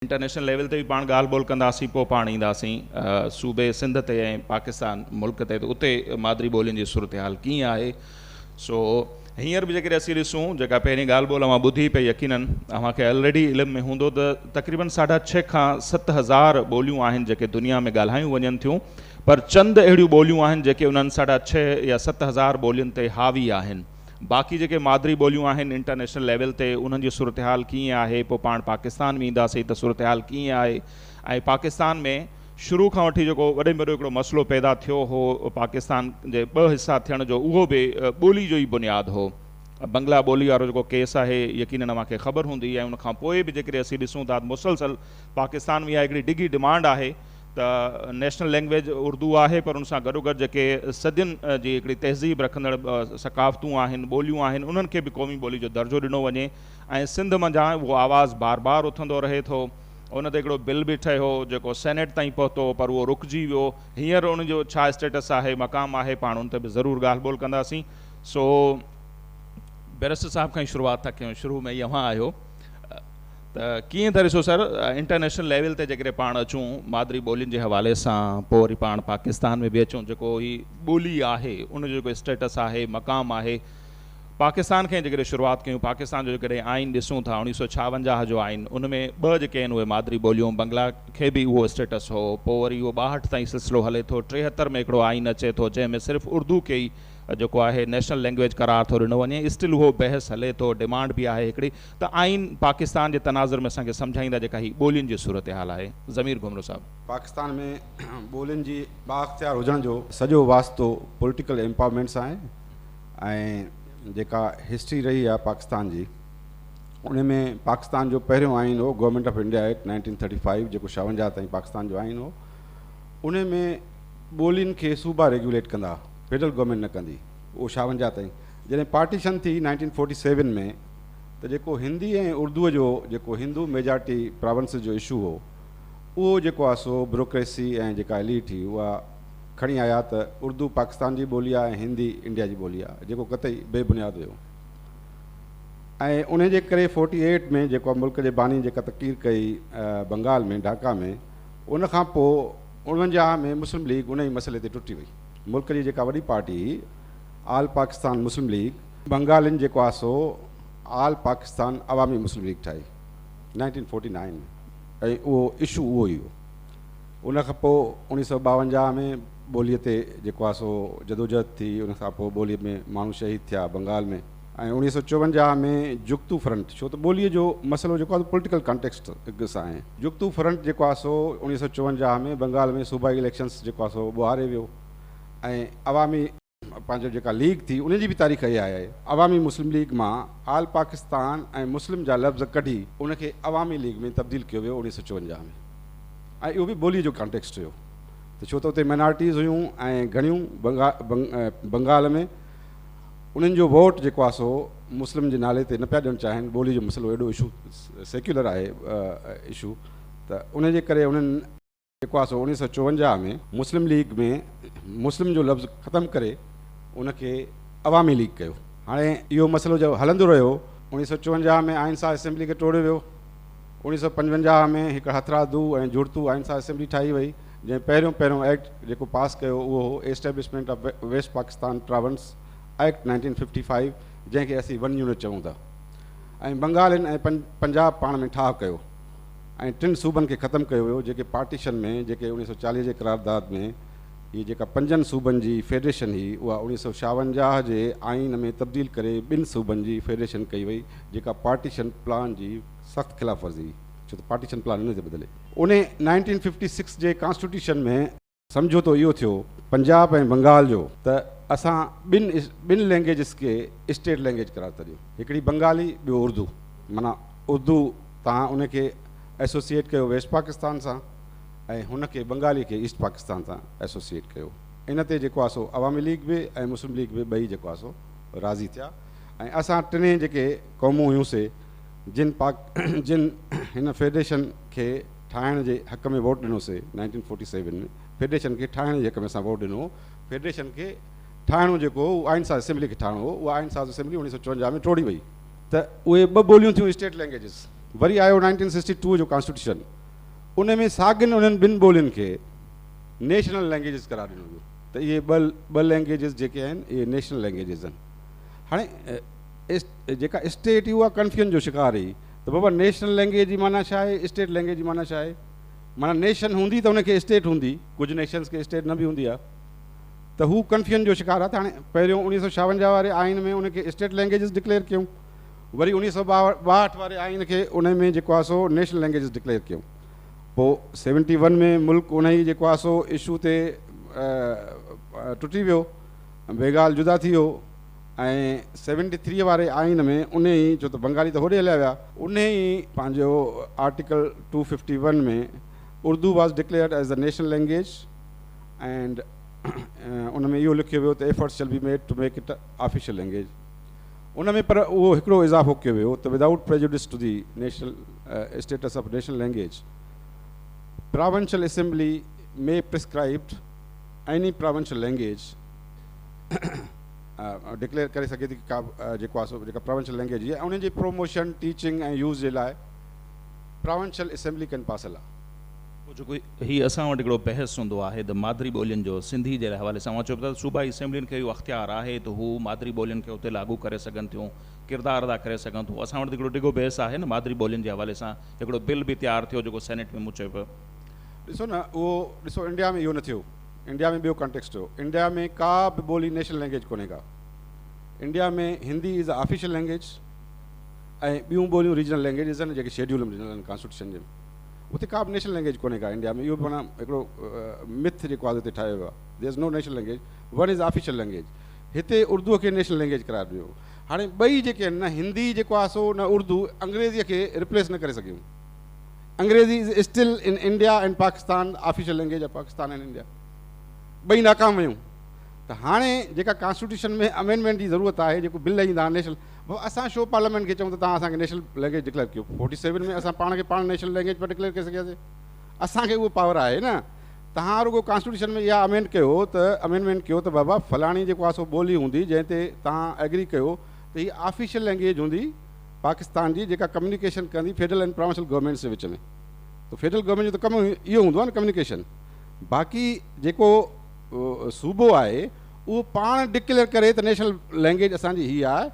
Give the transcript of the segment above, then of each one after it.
International level تي به پاڻ ڳالهه ٻولهه ڪنداسين پوء پاڻ اينداسين صوبي سنڌ تي ۽ پاڪستان ملڪ تي ته اتي مادري ٻولين جي صورتحال ڪيئن آهي سو هينئر به جيڪڏهن اسين ڏسون جيڪا پهرين ڳالهه ٻولهه اوهان ٻڌي پئي يقينن اوهان کي الريڊي علم ۾ هوندو ته تقريبن ساڍا ڇهه کان ست هزار ٻوليون آهن جيڪي دنيا ۾ ڳالهايون وڃن ٿيون پر چند اهڙيون ٻوليون آهن جيڪي انهن ساڍا ڇهه يا ست هزار ٻولين تي حاوي آهن باقي جيڪي مادري ٻوليون آهن انٽرنيشنل ليول تي انهن جي صورتحال ڪيئن آهي پوء پاڻ پاڪستان ۾ اينداسين ته صورتحال ڪيئن آهي ۽ پاڪستان ۾ شروع کان وٺي جيڪو وڏي ۾ وڏو هڪڙو مسئلو پيدا ٿيو هو پاڪستان جي ٻه حصا ٿيڻ جو اهو به ٻولي جو ئي بنياد هو بنگلا ٻولي وارو جيڪو ڪيس آهي يقينن اوهان کي خبر هوندي ۽ ان کان پوء به جيڪڏهن اسين ڏسون ٿا ته مسلسل پاڪستان ۾ اها هڪڙي ڊگهي ڊمانڊ آهي ته نيشنل لينگويج اردو آهي پر ان سان گڏوگڏ جيڪي صدين جي هڪڙي تهذيب رکندڙ ثقافتون آهن، ٻوليون آهن انهن کي به قومي ٻولي جو درجو ڏنو وڃي ۽ سنڌ منجهان اهو آواز بار بار اٿندو رهي ٿو. ان تي هڪڙو بل به ٺهيو جيڪو سينيٽ تائين پهتو پر اهو رڪجي ويو. هينئر ان جو ڇا اسٽيٽس آهي، مقام آهي پاڻ ان تي به ضرور ڳالهه ٻولهه ڪنداسين. سو بيرسٽر صاحب کان ئي شروعات ٿا ڪيون شروع ۾ ئي اوهان آهيو. ته ڪيئن ٿا ڏسو سر انٽرنيشنل ليول تي جيڪڏهن پاڻ اچون مادري ٻولين جي حوالي سان پوء وري پاڻ پاڪستان ۾ به اچون جيڪو هي ٻولي آهي ان جو جيڪو اسٽيٽس آهي مقام آهي پاڪستان کان جيڪڏهن شروعات ڪيون پاڪستان جو جيڪڏهن آئين ڏسون ٿا اوڻيهه سؤ ڇاونجاهه جو آئين ان ۾ ٻه جيڪي آهن اهي مادري ٻوليون بنگلا کي به اهو اسٽيٽس هو پوء وري اهو ٻاهٺ تائين سلسلو هلي ٿو ٽيهتر ۾ هڪڙو آئين اچي ٿو جنهن ۾ صرف اردو کي ئي جيڪو آهي نيشنل لينگويج قرار ٿو ڏنو وڃي اسٽل اهو بحث هلي ٿو ڊمانڊ به آهي هڪڙي ته آئين پاڪستان جي تناظر ۾ اسان کي سمجهائيندا جيڪا هي ٻولين جي صورتحال آهي ضمير گهمرو صاحب. پاڪستان ۾ ٻولين جي بااختيار هجڻ جو سڄو واسطو پوليٽيڪل ايمپاورمينٽ سان آهي ۽ جيڪا هسٽري رهي آهي پاڪستان جي ان ۾ پاڪستان جو پهريون آئين هو government of India act nineteen thirty five جيڪو شاونجاهه تائين پاڪستان جو آئين هو ان ۾ ٻولين کي صوبا ريگيوليٽ ڪندا فيڊرل گورنمينٽ نه ڪندي اهو شاونجاهه تائين جڏهن پارٽيشن ٿي نائنٽين فورٽي سيون ۾ ته جيڪو هندي ۽ اردوء جو جيڪو هندو ميجارٽي پراونسز جو اشو هو اهو جيڪو آهي سو بروڪريسي ۽ جيڪا ايليٽ هي اها کڻي آيا ته اردو پاڪستان جي ٻولي آهي ۽ هندي انڊيا جي ٻولي آهي جيڪو قطعي بي بنياد هيو ۽ انهي جي ڪري فورٽي ايٽ ۾ جيڪو ملڪ جي باني جيڪا تقرير ڪئي بنگال ۾ ڍاڪا ۾ ان کان پوء اڻونجاهه ۾ مسلم ليگ انهي مسئلي تي ٽٽي وئي ملڪ جي جيڪا وڏي پارٽي هي آل پاڪستان مسلم ليگ بنگالين جيڪو آسو All Pakistan Awami Muslim League ٺاهي نائنٽين فورٽي نائين ۾ ۽ اهو اشو اهو ئي هو. ان کان پوء اوڻيهه سؤ ٻاونجاهه ۾ ٻوليء تي جيڪو آسو جدوجهد ٿي ان کان پوء ٻوليء ۾ ماڻهو شهيد ٿيا بنگال ۾ ۽ اوڻيهه سؤ چوونجاهه ۾ جڳتو فرنٽ ڇو ته ٻوليء جو مسئلو جيڪو آسو پوليٽيڪل ڪانٽيڪسٽ سان جڳتو فرنٽ جيڪو آسو اوڻيهه سؤ چوونجاهه ۾ بنگال ۾ صوبائي اليڪشنس جيڪو آسو ٻهاري ويو ۽ عوامي پنهنجو جيڪا ليگ ٿي ان جي به تاريخ اها آهي عوامي مسلم ليگ مان آل پاڪستان ۽ مسلم جا لفظ ڪڍي ان کي عوامي ليگ ۾ تبديل ڪيو ويو اڻيهه سؤ چونجاهه ۾ ۽ اهو به ٻولي جو ڪانٽيڪسٽ هيو ته ڇو ته اتي مائنارٽيز هيون ۽ گهڻيون بنگال ۾ انهن جو ووٽ جيڪو آهي سو مسلم جي نالي تي نه پيا ڏيڻ چاهين ٻولي جو مسئلو ايڏو اشو سيڪيولر آهي اشو ته ان جي ڪري انهن جيڪو آسو اڻيهه سؤ چوونجاهه ۾ مسلم ليگ ۾ مسلم جو لفظ ختم ڪري ان کي عوامي ليگ ڪيو. هاڻي اهو مسئلو جو هلندو رهيو، اڻيهه سؤ چوونجاهه ۾ آئين ساز اسيمبلي کي ٽوڙيو ويو، اڻيهه سؤ پنجونجاهه ۾ هڪ هٿرادو ۽ جڙتو آئين ساز اسيمبلي ٺاهي وئي، جنهن پهريون پهريون ايڪٽ جيڪو پاس ڪيو اهو هو establishment of west Pakistan province act nineteen fifty five جنهن کي اسين ون يونٽ چئون ٿا ۽ بنگالين ۽ پنجاب پاڻ ۾ ٺاهه ڪيو. ۽ ٽن صوبن کي ختم ڪيو ويو جيڪي پارٽيشن ۾ جيڪي اڻيهه سؤ چاليهه جي قرارداد ۾ هي جيڪا پنجن صوبن جي فيڊريشن هي اها اڻيهه سؤ شاونجاهه جي آئين ۾ تبديل ڪري ٻن صوبن جي فيڊريشن ڪئي وئي جيڪا پارٽيشن پلان جي سخت خلاف ورزي هئي ڇو ته پارٽيشن پلان انهي تي ٻڌل هي انهي نائنٽين ففٽي سڪس جي ڪانسٽيوٽيشن ۾ سمجهوتو اهو ٿيو پنجاب ۽ بنگال جو ته اسان ٻن ٻن لينگيجز کي اسٽيٽ لينگيج قرار ٿا ڏيون هڪڙي بنگالي ٻيو اردو معنيٰ اردو تان ان کي ايسوسيئيٽ ڪيو ويسٽ پاڪستان سان ۽ هن کي بنگالي کي ايسٽ پاڪستان سان ايسوسيئيٽ ڪيو ان تي جيڪو آسو عوامي ليگ به ۽ مسلم ليگ به ٻئي جيڪو آسو راضي ٿيا ۽ اسان ٽنهي جيڪي قومون هيون سي جن پاڪ جن هن فيڊريشن کي ٺاهڻ جي حق ۾ ووٽ ڏنو سي، نائنٽين فورٽي سيون ۾، فيڊريشن کي ٺاهڻ جي حق ۾ اسان ووٽ ڏنو هو. فيڊريشن کي ٺاهڻو جيڪو هو، اهو آئين ساز اسيمبلي کي ٺاهڻو هو. اها آئين ساز اسيمبلي اڻويهه سؤ چونجاهه ۾ ٽوڙي وئي. ته اهي ٻه ٻوليون ٿيون اسٽيٽ لينگئيجز. وري آيو نائنٽين سڪسٽي ٽو جو ڪانسٽيٽيوشن، ان ۾ ساڳين انهن ٻن ٻولين کي نيشنل لينگئيجز قرار ڏنو ويو ته اهي ٻه ٻه لينگئيجز جيڪي آهن، اهي نيشنل لينگئيجز آهن. هاڻي جيڪا اسٽيٽ هئي، اها ڪنفيوژن جو شڪار رهي. ته بابا نيشنل لينگيج جي معنيٰ ڇا آهي؟ اسٽيٽ لينگيج جي معنيٰ ڇا آهي؟ معنيٰ نيشن هوندي ته ان کي اسٽيٽ هوندي، ڪجهه نيشنز کي اسٽيٽ نه به هوندي آهي ته هو ڪنفيوزن جو شڪار آهي ته هاڻي پهريون اڻيهه سؤ ڇاونجاهه واري آئين ۾ ان کي اسٽيٽ لينگيجز ڊڪليئر ڪيون وري اڻيهه سؤ ٻاهٺ واري آئين کي ان ۾ جيڪو آهي سو نيشنل لينگيجز ڊڪليئر ڪيون پوء سيونٽي ون ۾ ملڪ انهي جيڪو آهي سو اشو تي ٽٽي ويو بينگال جدا ٿي ويو ۽ سيونٽي ٿريء واري آئين ۾ انهي ئي، ڇو ته بنگالي ته هوڏي هليا ويا. انهي ئي پنهنجو article two fifty one ۾ Urdu was declared as the national language and ان ۾ اهو لکيو ويو ته efforts shall be made to make it official language ان ۾ پر اهو هڪڙو اضافو ڪيو ويو ته without prejudice to the national status of national language provincial assembly may prescribed any provincial language declare ڪري سگهي ٿي ته ڪا به جيڪو آهي سو جيڪا پراونشل لينگويج جي انهن جي پروموشن، ٽيچنگ ۽ يوز جي لاء پراونشل اسيمبلي ڪن پاسل آهي. پوء جيڪو هي اسان وٽ هڪڙو بحث هوندو آهي ته مادري ٻولين جو سنڌي جي حوالي سان اوهان چئو پيا ته صوبائي اسيمبلين کي اهو اختيار آهي ته هو مادري ٻولين کي اتي لاڳو ڪري سگهن ٿيون، ڪردار ادا ڪري سگهن ٿيون اسان وٽ ته هڪڙو ڊگهو بحث آهي نه مادري ٻولين جي حوالي سان هڪڙو بل به تيار ٿيو جيڪو سينيٽ ۾ مون چئو پيو. ڏسو نه اهو ڏسو انڊيا ۾ اهو نه ٿيو. انڊيا ۾ ٻيو ڪانٽيڪسٽ هو. انڊيا ۾ ڪا به ٻولي نيشنل لينگويج ڪونهي ڪا. India ۾ Hindi is official language ۽ ٻيون ٻوليون ريجنل لينگويجز آهن جيڪي شيڊيول ۾ ڏنل آهن ڪانسٽيٽيوشن جي. اتي ڪا به نيشنل لينگويج ڪونهي ڪا انڊيا ۾ اهو به معنيٰ هڪڙو مٿ جيڪو آزو تي ٺاهيو ويو آهي. There is no national language one is official language. هتي اردوء کي نيشنل لينگويج قرار ڏنو. هاڻي ٻئي جيڪي آهن نه هندي جيڪو آهي سو نه اردو انگريزيء کي ريپليس نه ڪري سگهيون. انگريزي is still in India and Pakistan official language of Pakistan and India ٻئي ناڪام ويون ته هاڻي جيڪا ڪانسٽيٽيوشن ۾ امينڊمينٽ جي ضرورت آهي جيڪو بل ايندا آهن نيشنل بابا اسان شو پارليامينٽ کي چئون ته تان اسان کي نيشنل لينگويج ڊڪليئر ڪيو فورٽي سيون ۾ اسان پاڻ کي پاڻ نيشنل لينگويج پيا ڊڪليئر ڪري سگهياسي اسان کي اهو پاور آهي نه تان رڳو ڪانسٽيٽيوشن ۾ اها امينڊ ڪيو ته امينڊمينٽ ڪيو ته بابا فلاڻي جيڪو آسو ٻولي هوندي جنهن تي تان ايگري ڪيو ته هي آفيشل لينگويج هوندي پاڪستان جي جيڪا ڪميونيڪيشن ڪرڻي فيڊرل اينڊ پراونسل گورنمينٽس جي وچ ۾ ته فيڊرل گورنمينٽ جو ته ڪم اهو هوندو آهي نه ڪميونيڪيشن باقي جيڪو صوبو آهي اهو پاڻ ڊڪليئر ڪري ته نيشنل لينگويج اسان جي هي آهي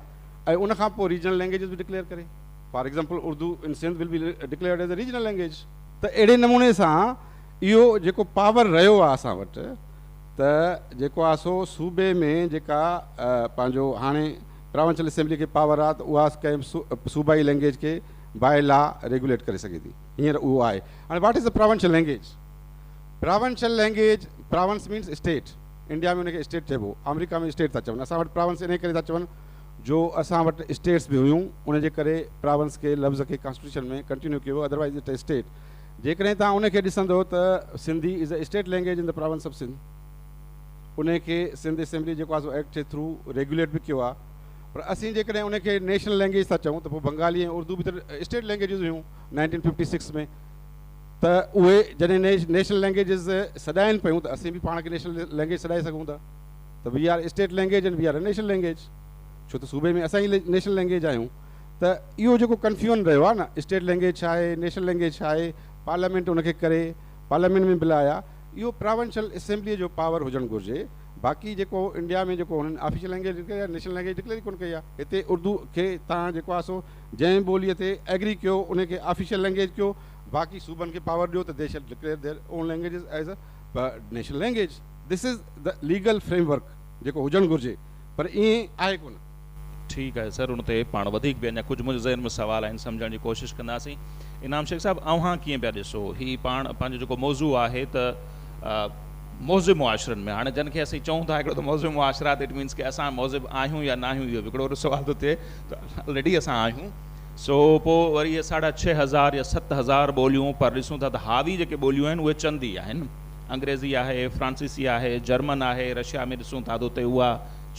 ۽ ان کان پوء ريجنل لينگويجز به ڊڪليئر ڪري for example Urdu in Sindh will be declared as a regional language ته اهڙي نموني سان اهو جيڪو پاور رهيو آهي اسان وٽ ته جيڪو آهي سو صوبي ۾ جيڪا پنهنجو هاڻي پراونشل اسيمبلي کي پاور آ ته اها ڪنهن به صوبائي لينگيج کي باء لا ريگوليٽ ڪري سگهي ٿي هينئر اهو آهي هاڻي what is a provincial language provincial language province means state India ۾ ان کي اسٽيٽ چئبو آمريڪا ۾ اسٽيٽ ٿا چون اسان وٽ پراونس انهي ڪري ٿا چون جو اسان وٽ اسٽيٽس به هيون ان جي ڪري پراونس کي لفظ کي ڪانسٽيٽيوشن ۾ ڪنٽينيو ڪيو ويو اڌروائيز اٽ اي اسٽيٽ جيڪڏهن توهان ان کي ڏسندو ته Sindhi is a state language ان ته پراونس آف سنڌ. انهي کي سنڌ اسيمبلي جيڪو آهي سو ايڪٽ جي ٿرو ريگيوليٽ به ڪيو آهي پر اسين جيڪڏهن انهي کي نيشنل لينگيج ٿا چئون ته پوء بنگالي ۽ اردو به ته اسٽيٽ لينگيجز هيون نائنٽين ففٽي سڪس ۾ ته اهي جڏهن نيشنل لينگيجز سڏائين پيون ته اسين به پاڻ کي نيشنل لينگيج سڏائي سگهون ٿا ته we are state language and we are a national language ڇو ته صوبي ۾ اسان ئي نيشنل لينگيج آهيون ته اهو جيڪو ڪنفيون رهيو آهي نه اسٽيٽ لينگيج ڇا آهي نيشنل لينگيج ڇا آهي پارليامينٽ ان کي ڪري پارليامينٽ ۾ بل آيا اهو پراونشل اسيمبليء جو پاور هجڻ گهرجي، باقي جيڪو انڊيا ۾ جيڪو هنن آفيشل لئنگئيج ڊڪليئر ڪئي آهي، نيشنل لئنگئيج ڊڪليئر ئي ڪونه ڪئي آهي. هتي اردو کي توهان جيڪو آهي سو جنهن ٻوليء تي ايگري ڪيو، ان کي آفيشل لئنگئيج ڪيو، باقي صوبن کي پاور ڏيو ته the shall declare their own languages as a national language. This is the legal framework جيڪو هجڻ گهرجي، پر ائين آهي ڪونه. ٺيڪ آهي سر ان تي پاڻ وڌيڪ به اڃا ڪجهه منهنجي ذهن ۾ سوال آهن سمجهڻ جي ڪوشش ڪنداسين انعام شيخ صاحب اوهان ڪيئن پيا ڏسو هي پاڻ پنهنجو جيڪو موضوع آهي ته مهذب معاشرن ۾ هاڻي جن کي اسين چئون ٿا هڪڙو ته مهذب معاشرا اٽ مينس ڪي اسان مهذب آهيون يا ناهيون اهو به هڪڙو وڏو سوال ٿو ٿئي ته آلريڊي اسان آهيون سو پوء وري اهي ساڍا ڇهه هزار يا ست هزار ٻوليون پر ڏسون ٿا ته حاوي جيڪي ٻوليون آهن اهي چند ئي آهن انگريزي آهي فرانسيسي آهي جرمن آهي رشيا ۾ ڏسون ٿا ته اتي اها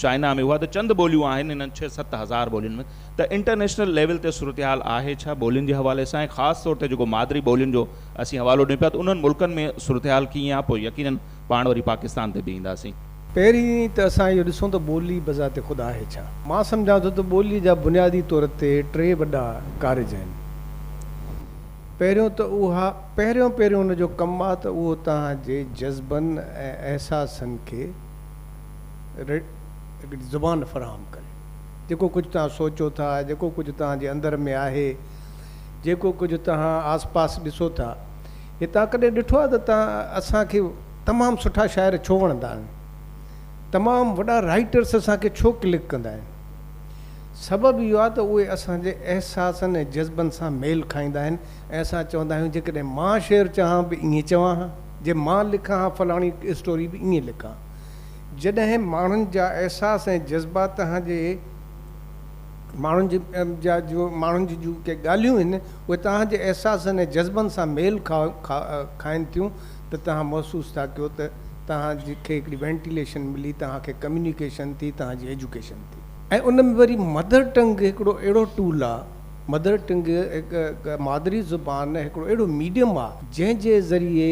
چائنا ۾ اها ته چند ٻوليون آهن، انهن ڇهه ست هزار ٻولين ۾ ته انٽرنيشنل ليول تي صورتحال آهي ڇا ٻولين جي حوالي سان ۽ خاص طور تي جيڪو مادري ٻولين جو اسين حوالو ڏيون پيا ته انهن ملڪن ۾ صورتحال ڪيئن آهي پوء يقينن پاڻ وري پاڪستان تي به اينداسين. پهرين ته اسان اهو ڏسون ته ٻولي بذات خود آهي ڇا؟ مان سمجهان ٿو ته ٻولي جا بنيادي طور تي ٽي وڏا ڪارج آهن. پهريون ته اها پهريون پهريون ان جو ڪم آهي ته اهو توهان جي جذبن ۽ احساسن کي، ريڊ زبان فراهم ڪري. جيڪو ڪجهه توهان سوچو ٿا، جيڪو ڪجهه توهان جي اندر ۾ آهي، جيڪو ڪجهه توهان آس پاس ڏسو ٿا، هي توهان ڪڏهن ڏٺو آهي ته توهان اسان کي تمام سٺا شاعر ڇو وڻندا آهن؟ تمام وڏا رائيٽرس اسان کي ڇو ڪلڪ ڪندا آهن؟ سبب اهو آهي ته اهي اسان جي احساسن ۽ جذبن سان ميل کائيندا آهن ۽ اسان چوندا آهيون جيڪڏهن مان شعر چوان به ائين چوان ها، جي مان لکان ها فلاڻي اسٽوري به ائين لکان ها. جڏهن ماڻهن جا احساس ۽ جذبا تهان جي ماڻهن جي جا جو ماڻهن جي جون ڪي ڳالهيون هن اهي تهان جي احساسن ۽ جذبن سان ميل کا کا کائن ٿيون ته تهان محسوس ٿا ڪيو ته تهان جي کي هڪڙي وينٽيليشن ملي تهان کي ڪميونيڪيشن ٿي تهان جي ايجوڪيشن ٿي. ۽ ان ۾ وري مدر ٽنگ هڪڙو اهڙو ٽول آ مدر ٽنگ هڪ مادري زبان هڪڙو اهڙو ميڊيم آ جنهن جي ذريعي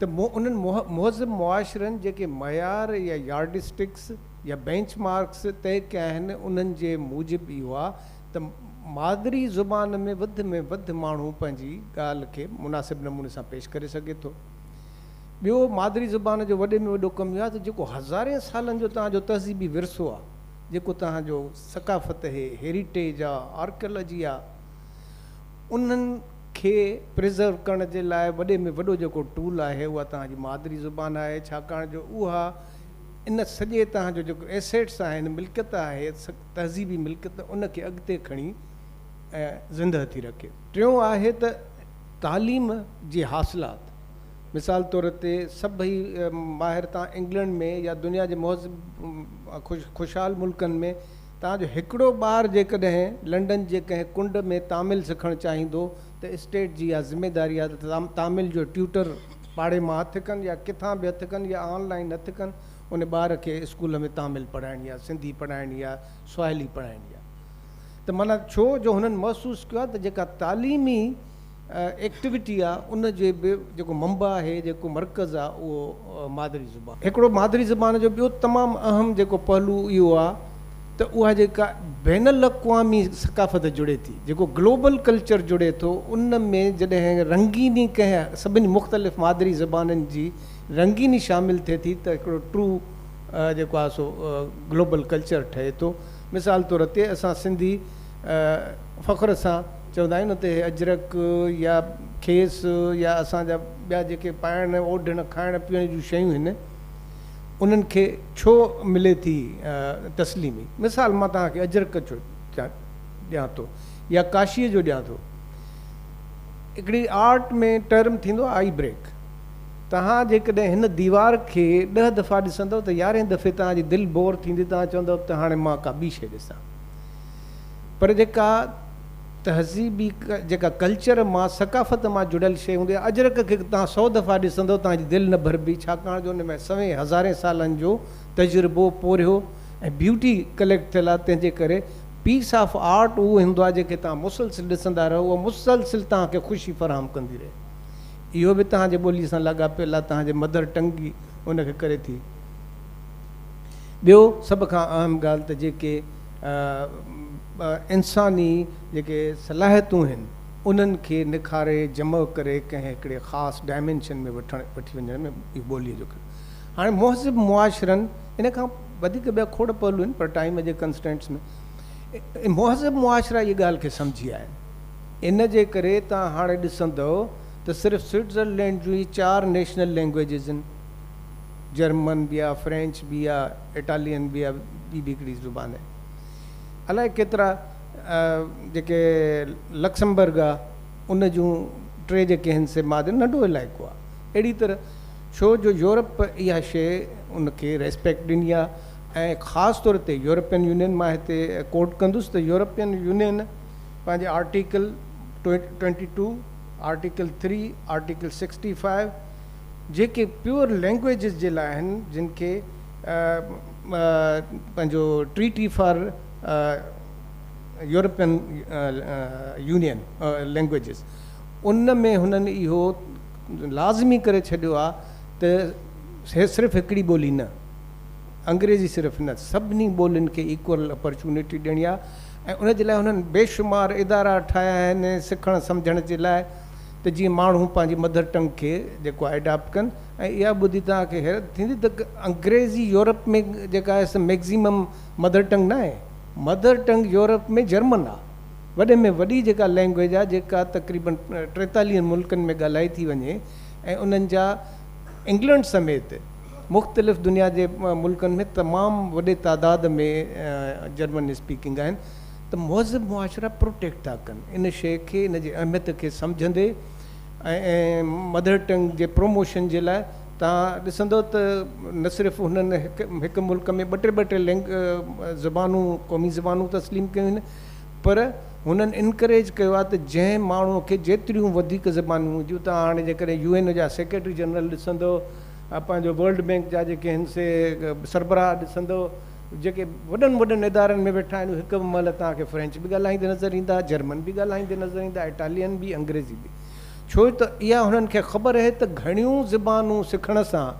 ته مون انهن مهذب معاشرن جيڪي معيار يا يارڊ اسٽڪس يا بينچ مارڪس طئي ڪيا آهن انهن جي موجب اهو آهي ته مادري زبان ۾ وڌ ۾ وڌ ماڻهو پنهنجي ڳالهه کي مناسب نموني سان پيش ڪري سگهي ٿو. ٻيو مادري زبان جو وڏي ۾ وڏو ڪم اهو آهي ته جيڪو هزارين سالن جو توهان جو تهذيبي ورثو آهي جيڪو توهان جو ثقافت هي هيريٽيج آهي آرڪيالاجي آهي. انهن کي پريزرو ڪرڻ جي لاء وڏي ۾ وڏو جيڪو ٽول آهي اها توهان جي مادري زبان آهي ڇاڪاڻ جو اها ان سڄي توهان جو جيڪو ايسيٽس آهن ملڪيت آهي تهذيبي ملڪيت ان کي اڳتي کڻي ۽ زنده ٿي رکي. ٽيون آهي ته تعليم جي حاصلات مثال طور تي سڀئي ماهر تان انگلنڊ ۾ يا دنيا جي مهذب خوشحال ملڪن ۾ تان جو هڪڙو ٻار جيڪڏهن لنڊن جي ڪنهن ڪنڊ ۾ تامل سکڻ چاهيندو ته اسٽيٽ جي اها ذميداري آهي ته تامل جو ٽيوٽر پاڙي مان هٿ ڪن يا ڪٿان به هٿ ڪن يا آن لائين هٿ ڪن ان ٻار کي اسڪول ۾ تامل پڙهائڻ يا سنڌي پڙهائڻ يا سواحلي پڙهائڻ يا ته معنيٰ ڇو جو هنن محسوس ڪيو آهي ته جيڪا تعليمي ايڪٽويٽي آهي ان جي به جيڪو منبع آهي جيڪو مرڪز آهي اهو مادري زبان. هڪڙو مادري زبان جو ٻيو تمام اهم جيڪو پهلو اهو آهي ته اها جيڪا بين الاقوامي ثقافت جڙي ٿي جيڪو گلوبل ڪلچر جڙي ٿو ان ۾ جڏهن رنگيني ڪنهن سڀني مختلف مادري زبانن جي رنگيني شامل ٿئي ٿي ته هڪڙو ٽرو جيڪو آهي سو گلوبل ڪلچر ٺهي ٿو مثال طور تي اسان سنڌي فخر سان چوندا آهيون نه ته هي اجرڪ يا کيس يا اسان جا ٻيا جيڪي پائڻ اوڍڻ کائڻ پيئڻ جون شيون هن انهن کي ڇو ملي ٿي تسليمي مثال مان توهان کي اجرڪ جو ڏيان ٿو يا ڪاشي جو ڏيان ٿو هڪڙي آرٽ ۾ ٽرم ٿيندو آئي بريڪ توهان جيڪڏهن هن ديوار کي ڏهه دفعا ڏسندو ته يارهين دفعي توهان جي دل بور ٿيندي توهان چوندو ته هاڻي مان ڪا ٻي شيء ڏسان پر جيڪا تهذيبي جيڪا ڪلچر مان ثقافت مان جڙيل شيء هوندي آهي اجرڪ کي توهان سئو دفعا ڏسندؤ توهان جي دل نه ڀربي ڇاڪاڻ جو ان ۾ سوين هزارين سالن جو تجربو پورهيو ۽ بيوٽي ڪليڪٽ ٿيل آهي تنهن جي ڪري پيس آف آرٽ اهو هوندو آهي جنهن کي توهان مسلسل ڏسندا رهو اها مسلسل توهان کي خوشي فراهم ڪندي رهي اهو به توهان جي ٻولي سان لاڳاپيل آهي توهان جي مدر ٽنگ ئي ان کي ڪري ٿي ٻيو سڀ کان اهم ڳالهه ته جيڪي انساني جيڪي صلاحيتون هن انهن کي نکاري جمع ڪري ڪنهن هڪڙي خاص ڊائمينشن ۾ وٺي وڃڻ ۾ اهي ٻولي جو ڪري هاڻي مهذب معاشرن ان کان وڌيڪ ٻيا کوڙ پهلو آهن پر ٽائيم جي ڪنسٽينٽس ۾ مهذب معاشرا اهي ڳالهه کي سمجهي آيا آهن ان جي ڪري توهان هاڻي ڏسندؤ ته صرف سوئٽزرلينڊ جون ئي چار نيشنل لينگويجز آهن جرمن به آهي فرينچ به آهي اٽالين به اها ٻي به هڪڙي زبان آهي. الائي ڪيترا جيڪي لڪسمبرگ آهي ان جون ٽي جيڪي آهن سي ماضي ننڍو علائقو آهي. اهڙي طرح ڇو جو يورپ اها شيء ان کي ريسپيڪٽ ڏني آهي ۽ خاص طور تي يورپين يونين مان هتي ڪوٽ ڪندس ته يورپين يونين پنهنجي article twenty two, article three, article sixty five, جيڪي پيور لينگويجز جي لاء آهن جن کي پنهنجو treaty for European Union languages ان ۾ هنن اهو لازمي ڪري ڇڏيو آهي ته هي صرف هڪڙي ٻولي نه انگريزي صرف نه سڀني ٻولين کي ايڪول اپرچونٽي ڏيڻي آهي ۽ ان جي لاء هنن بيشمار ادارا ٺاهيا آهن سکڻ سمجهڻ جي لاء ته جيئن ماڻهو پنهنجي مڌر ٽنگ کي جيڪو آهي اڊاپٽ ڪن ۽ اها ٻڌي توهان کي حيرت ٿيندي ته انگريزي يورپ ۾ جيڪا آهي سا مئڪزيمم مڌر ٽنگ نه آهي مڌر ٽنگ يورپ ۾ جرمن آهي وڏي ۾ وڏي جيڪا لئنگوئيج آهي جيڪا تقريبن ٽيتاليهن ملڪن ۾ ڳالهائي ٿي وڃي ۽ انهن جا انگلنڊ سميت مختلف دنيا جي ملڪن ۾ تمام وڏي تعداد ۾ جرمن اسپيڪنگ آهن ته مهذب معاشرا پروٽيڪٽ ٿا ڪن ان شيء کي، ان جي اهميت کي سمجهندي ۽ مدر ٽنگ جي پروموشن جي لاء توهان ڏسندو ته نه صرف هنن هڪ ملڪ ۾ ٻه ٽي ٻه ٽي زبانون قومي زبانون تسليم ڪيون آهن پر هنن انڪريج ڪيو آهي ته جنهن ماڻهو کي جيتريون وڌيڪ زبانون هجون توهان هاڻي جيڪڏهن يو اين او جا سيڪريٽري جنرل ڏسندو پنهنجو ورلڊ بينڪ جا جيڪي آهن سي سربراهه ڏسندو جيڪي وڏن وڏن ادارن ۾ ويٺا آهن، اهي هڪ به مهل توهان کي فرينچ به ڳالهائيندي نظر ايندا، جرمن به ڳالهائيندي نظر ايندا، اٽالين به، انگريزي به. ڇو ته اها هنن کي خبر اهي ته گهڻيون زبانون سکڻ سان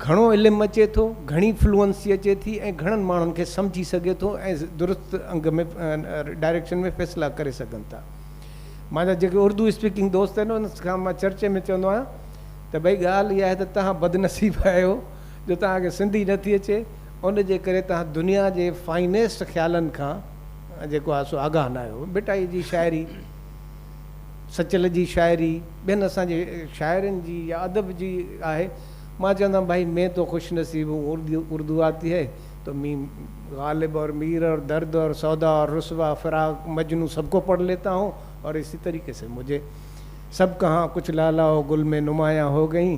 گهڻو علم اچي ٿو، گهڻي فلوئنسي اچي ٿي ۽ گهڻن ماڻهن کي سمجهي سگهي ٿو ۽ درست انگ ۾ ڊائريڪشن ۾ فيصلا ڪري سگهن ٿا. مانجا جيڪي اردو اسپيڪنگ دوست آهن، انهن کان مان چرچي ۾ چوندو آهيان ته ڀئي ڳالهه اها آهي ته توهان بدنصيب آهيو، جو توهان کي سنڌي نه ٿي اچي ان جي ڪري توهان دنيا جي فائنيسٽ خيالن کان جيڪو آهي سو آگاهه نه آهيو. ڀٽائي جي شاعري، سچل جي شاعري، ٻين اسان جي شاعرن جي يا ادب جي آهي. مان چوندم ڀائي مين تو خوش نصيب هون اردو آتي هي تو مين غالب اور مير اور درد اور سودا اور رسوا فراق مجنون سب کو پڙھ ليتا هون اور اسي طريقي سي مجھي سب ڪهان ڪچھ لالا و گل مين نمايان هو گئين.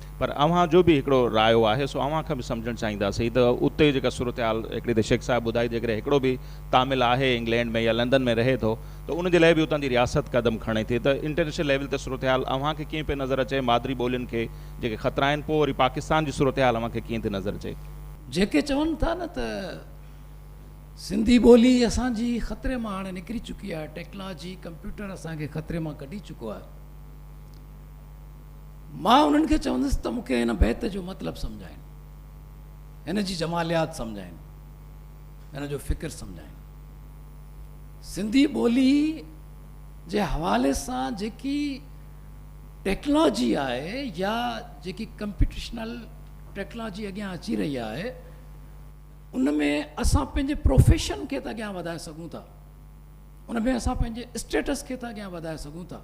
پر اوهان جو به هڪڙو رايو آهي سو اوهان کان به سمجهڻ چاهيندا سين ته اتي جيڪا صورتحال هڪڙي ته شيخ صاحب ٻڌائي جيڪڏهن هڪڙو به تامل آهي انگلينڊ ۾ يا لندن ۾ رهي ٿو ته ان جي لاء به اتان جي رياست قدم کڻي ٿي ته انٽرنيشنل ليول تي صورتحال اوهان کي ڪيئن پئي نظر اچي مادري ٻولين کي جيڪي خطرا آهن پوء وري پاڪستان جي صورتحال اوهان کي ڪيئن ٿي نظر اچي. جيڪي چون ٿا نه ته سنڌي ٻولي اسان جي خطري مان هاڻي نڪري چڪي آهي ٽيڪنالاجي ڪمپيوٽر اسان کي خطري مان ڪڍي چڪو آهي. مان انهن کي چوندس ته مون کي هن بيت جو مطلب سمجهائين، هن جي جماليات سمجهائين، هن جو فڪر سمجهائين. سنڌي ٻولي جي حوالي سان جيڪي ٽيڪلاجي آهي يا جيڪي ڪمپيوٽيشنل ٽيڪلاجي اڳيان اچي رهي آهي ان ۾ اسان پنهنجي پروفيشن کي ته اڳيان وڌائي سگهون ٿا ان ۾ اسان پنهنجي اسٽيٽس کي ته اڳيان وڌائي سگهون ٿا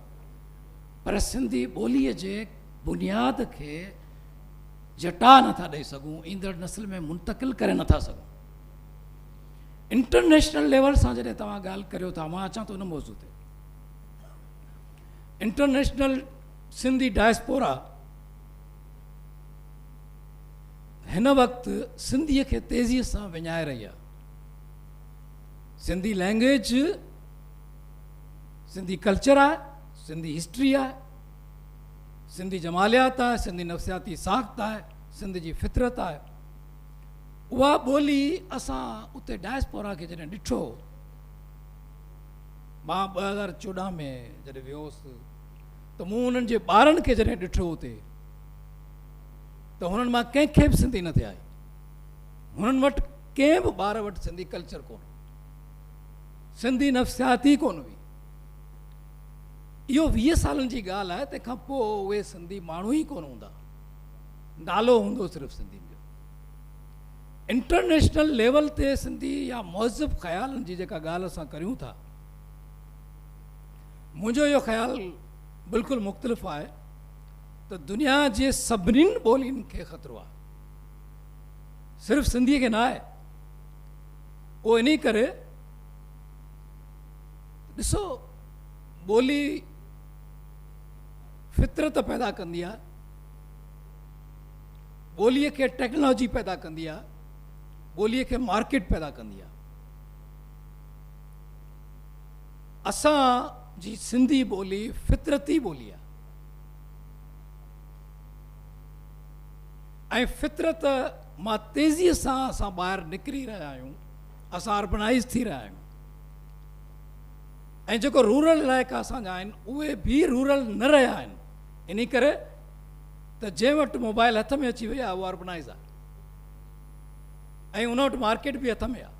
پر سنڌي ٻوليء جي بنياد کي جٽاء نٿا ڏئي سگهون، ايندڙ نسل ۾ منتقل ڪري نٿا سگهون. انٽرنيشنل ليول سان جڏهن توهان ڳالهه ڪريو ٿا، مان اچان ٿو ان موضوع تي. انٽرنيشنل سنڌي ڊائسپورا هن وقت سنڌي کي تيزي سان وڃائي رهي آهي سنڌي لينگويج سنڌي ڪلچر آهي، سنڌي هسٽري آهي، سنڌي جماليات آهي، سنڌي نفسياتي ساخت آهي، سنڌ جي فطرت آهي. اها ٻولي اسان اتي ڊائسپورا کي جڏهن ڏٺو، مان ٻه هزار چوڏهن ۾ جڏهن ويو هوس ته مون انهن جي ٻارن کي جڏهن ڏٺو اتي ته هنن مان ڪنهن کي به سنڌي نه ٿي آئي. هنن وٽ ڪنهن به ٻار وٽ سنڌي ڪلچر ڪونه سنڌي نفسيات ئي ڪونه هئي. اهو ويهه سالن جي ڳالهه آهي، تنهن کان پوء اهي سنڌي ماڻهو ئي ڪونه هوندا. نالو هوندو صرف سنڌين جو. انٽرنيشنل ليول تي سنڌي يا مهذب خيالن جي جيڪا ڳالهه اسان ڪريون ٿا، منهنجو اهو خيال بلڪل مختلف آهي ته دنيا جي سڀنين ٻولين کي خطرو آهي، صرف سنڌي کي ناهي. پوء انهيء ڪري ڏسو ٻولي فطرت پيدا ڪندي آهي، ٻوليء کي ٽيڪنالاجي پيدا ڪندي آهي، ٻوليء کي مارڪيٽ پيدا ڪندي آهي. اسان جي سنڌي ٻولي فطرتي ٻولي آهي. ۽ فطرت مان تيزيء سان اسان ٻاهر نڪري رهيا آهيون اسان اربنائيز ٿي رهيا آهيون ۽ جيڪو رورل علائقا اسان جا آهن اهي به رورل نه رهيا آهن انهي ڪري ته جنهن وٽ موبائل هٿ ۾ اچي وئي آهي اهو اربنائيز آهي ۽ ان وٽ مارڪيٽ به هٿ ۾ آهي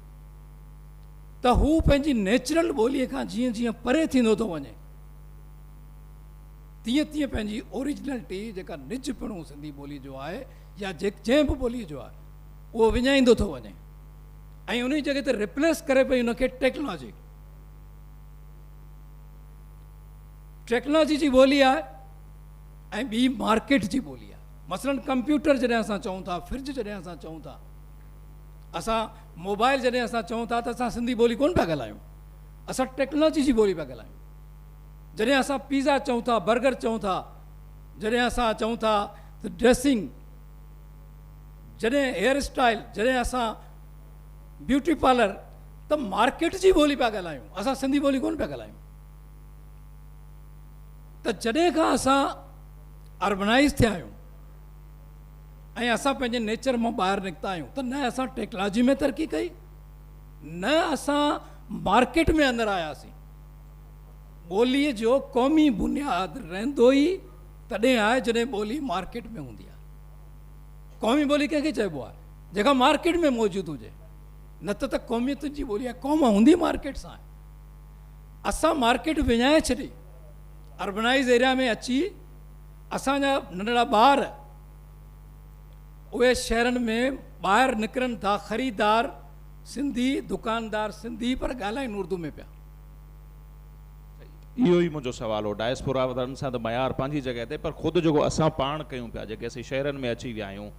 ته هو پنهنجي نيچرل ٻولي کان جيئن جيئن پري ٿيندو ٿو وڃي تيئن تيئن پنهنجي اوريجنلٽي جيڪا نج پڻو سنڌي ٻولي جو آهي يا جنهن به ٻولي جو آهي اهو وڃائيندو ٿو وڃي ۽ انهي جڳهه تي ريپليس ڪري پئي ان کي ٽيڪنالاجي ٽيڪنالاجي جي ٻولي آهي ۽ ٻي مارڪيٽ جي ٻولي آهي مثلا ڪمپيوٽر جڏهن اسان چئون ٿا فرج جڏهن اسان چئون ٿا اسان موبائل جڏهن اسان چئون ٿا ته اسان سنڌي ٻولي ڪون پيا ڳالهايون اسان ٽيڪنالاجي جي ٻولي پيا ڳالهايون جڏهن اسان پيزا چئون ٿا، برگر چئون ٿا، جڏهن اسان چئون ٿا ته ڊريسنگ، جڏهن هيئر اسٽائيل، جڏهن اسان بيوٽي پارلر ته مارڪيٽ جي ٻولي پيا ڳالهايون، اسان سنڌي ٻولي ڪونه پيا ڳالهايون. ته جڏهن کان اسان اربنائيز ٿيا آهيون ۽ اسان پنهنجي نيچر مان ٻاهر نڪتا آهيون ته نه اسان ٽيڪلاجي ۾ ترقي ڪئي نه اسان مارڪيٽ ۾ اندر آياسين. ٻوليء جو قومي بنياد رهندو ئي تڏهن آهي جڏهن ٻولي مارڪيٽ ۾ هوندي آهي. قومي ٻولي ڪنهن کي چئبو آهي؟ جيڪا مارڪيٽ ۾ موجود هجي. نه ته ته قوميتن جي ٻولي آهي. قوم هوندي مارڪيٽ سان آهي. اسان مارڪيٽ وڃائي ڇڏي. اربنائيز ايريا ۾ اچي اسان جا ننڍڙا ٻار اهي شهرن ۾ ٻاهر نڪرن ٿا خريدار سنڌي دڪاندار سنڌي پر ڳالهائين اردو ۾ پيا. اهو ئي منهنجو سوال هو. ڊائسپورا وارن سان ته معيار پنهنجي جڳهه تي پر خود جيڪو اسان پاڻ ڪيون پيا جيڪي اسين شهرن ۾ اچي ويا آهيون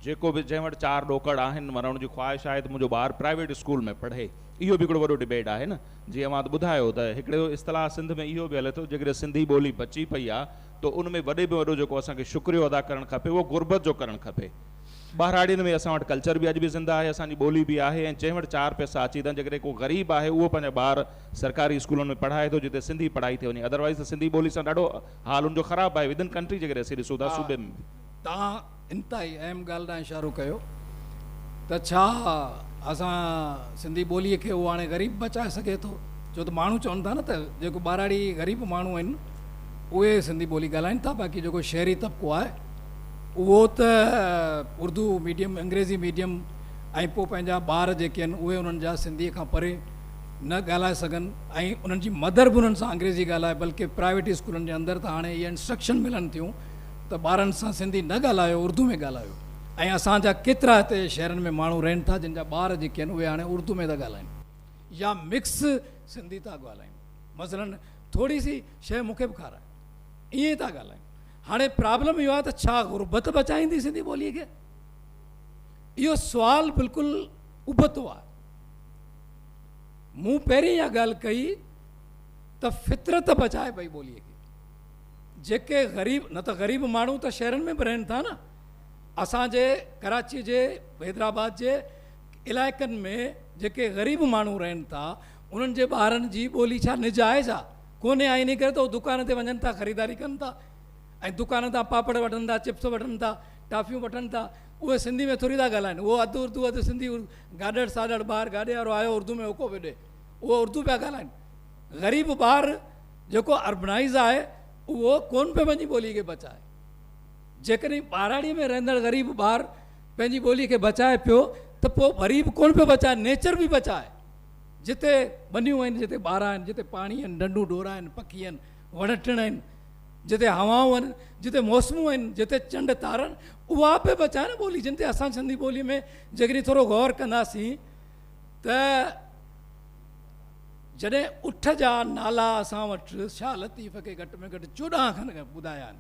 جيڪو به جنهن وٽ چار ڏوڪڙ آهن معنيٰ ان جي خواهش آهي ته منهنجو ٻار پرائيويٽ اسڪول ۾ پڙهي اهو به هڪڙو وڏو ڊبيٽ آهي نه جي اوهان ته ٻڌايو ته هڪڙو اصطلاح سنڌ ۾ اهو به هلي ٿو جيڪڏهن سنڌي ٻولي بچي پئي آهي ته ان ۾ وڏي ۾ وڏو جيڪو اسان کي شڪريو ادا ڪرڻ کپي اهو غربت جو ڪرڻ کپي ٻهراڙين ۾ اسان وٽ ڪلچر به اڄ به زنده آهي، اسان جي ٻولي به آهي ۽ جنهن وٽ چار پئسا اچي ٿا، جيڪڏهن ڪو غريب آهي اهو پنهنجا ٻار سرڪاري اسڪولن ۾ پڙهائي ٿو جتي سنڌي پڙهائي ٿي وڃي اڌروائيز ته سنڌي ٻولي سان ڏاڍو حال ان جو خراب آهي ودن ڪنٽري جيڪڏهن اسين ڏسون ٿا صوبي ۾ به. توهان انتهائي اهم ڳالهه ڏانهن اشارو ڪيو ته ڇا اسان سنڌي ٻولي کي اهو هاڻي غريب بچائي سگهي ٿو ڇو ته ماڻهو چون ٿا نه ته جيڪو ٻهراڙي غريب ماڻهو آهن اهي سنڌي ٻولي ڳالهائين ٿا باقي جيڪو شهري طبقو آهي اهو ته اردو ميڊيم انگريزي ميڊيم ۽ پوء پنهنجا ٻار جيڪي آهن اهي انهن جا سنڌي کان پري نه ڳالهائي سگهن ۽ انهن جي مدر به انهن سان انگريزي ڳالهائي بلڪه پرائيويٽ اسڪولن جي اندر ته هاڻي اهي انسٽرڪشن ملن ٿيون ته ٻارن سان سنڌي نه ڳالهايو اردو ۾ ڳالهايو ۽ اسان جا ڪيترا هتي شهرن ۾ ماڻهو رهن ٿا جن جا ٻار جيڪي آهن اهي هاڻي اردو ۾ ٿا ڳالهائين يا مڪس سنڌي ٿا ڳالهائين مثلاً ٿوري سي شي مون کي به کارائي ائين ٿا ڳالهائين هاڻي پرابلم اهو آهي ته ڇا غربت بچائيندي سنڌي ٻوليء کي؟ اهو سوال بلڪل ابتو آهي. مون پهرين اها ڳالهه ڪئي ته فطرت بچائي پئي ٻوليء کي. جيڪي غريب نه ته غريب ماڻهو ته شهرن ۾ به رهن ٿا نه. اسان جي ڪراچيء جي حيدرآباد جي علائقن ۾ جيڪي غريب ماڻهو رهن ٿا انهن جي ٻارن جي ٻولي ڇا نجائز آهي؟ ڪونهي ۽ انهي ڪري ته هو دڪان تي وڃن ٿا خريداري ڪن ٿا ۽ دڪان تان پاپڙ وٺن ٿا چپس وٺن ٿا ٽافيون وٺن ٿا اهي سنڌي ۾ ٿوري ٿا ڳالهائين اهو اڌ اردو اڌ سنڌي گاڏڙ ساڏڙ ٻاهر گاڏي وارو آيو اردو ۾ هوڪو پيو ڏي اهو اردو پيا ڳالهائين غريب ٻار جيڪو اربنائز آهي اهو ڪون پيو پنهنجي ٻولي کي بچائي جيڪڏهن ٻاراڙي ۾ رهندڙ غريب ٻار پنهنجي ٻولي کي بچائي پيو ته پوء وري به ڪون پيو بچائي نيچر به بچائي جتي ٻنيون آهن، جتي ٻارا آهن، جتي پاڻي آهن، ڍنڍون ڍورا آهن، پکي آهن، وڻ ٽڻ آهن، جتي هوائون آهن، جتي موسمون آهن، جتي چنڊ تارا آهن، اها به بچاء نه ٻولي جن تي اسان سنڌي ٻوليء ۾ جيڪڏهن ٿورو غور ڪنداسين ته جڏهن اٺ جا نالا اسان وٽ شاهه لطيف کي گهٽ ۾ گهٽ چوڏهن کن ٻڌايا آهن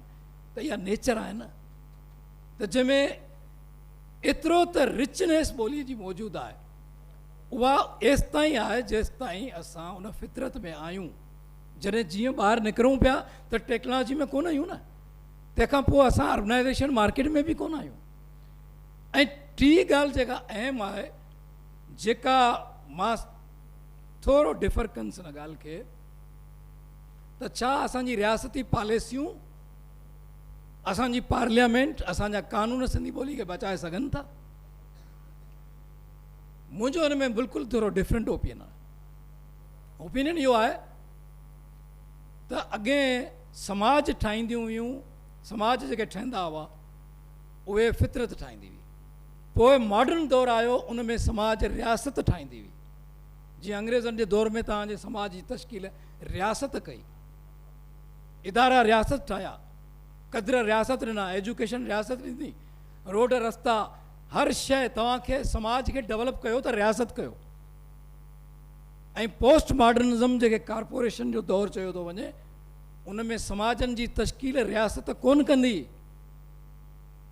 ته اها نيچر آهي نه ته جنهن ۾ ايترو ته رچنيس ٻوليء جي موجود آهي اها ايستائين آهي جيستائين اسان ان فطرت ۾ آهيون جڏهن جيئن ٻاهر نڪرون پيا ته ٽيڪنالاجي ۾ ڪونه آهيون نه تنهن کان پوء اسان اربنائيزيشن مارڪيٽ ۾ به ڪونه آهيون ۽ ٽي ڳالهه جيڪا اهم آهي جيڪا مان ٿورو ڊفر ڪنس ان ڳالهه کي ته ڇا اسان جي رياستي پاليسيون اسان جي پارليامينٽ اسان جا قانون سنڌي ٻولي کي بچائي سگهن ٿا منهنجو ان ۾ بلڪل ٿورو ڊفرنٽ اوپيئن آهي اوپينين اهو آهي ته اڳي سماج ٺاهينديون هيون سماج جيڪي ٺهندا هئا اهي فطرت ٺاهيندي هئي پوء ماڊرن دور آيو ان ۾ سماج رياست ٺاهيندي هئي جيئن انگريزن جي دور ۾ تان جي سماج جي تشڪيل رياست ڪئي ادارا رياست ٺاهيا قدر رياست ڏنا ايجوڪيشن رياست ڏني روڊ رستا هر شيء توهان کي سماج کي ڊولپ ڪيو ته رياست ڪيو ۽ پوسٽ ماڊرنزم جيڪي ڪارپوريشن جو دور چيو ٿو وڃي ان ۾ سماجن جي تشڪيل رياست ڪون ڪندي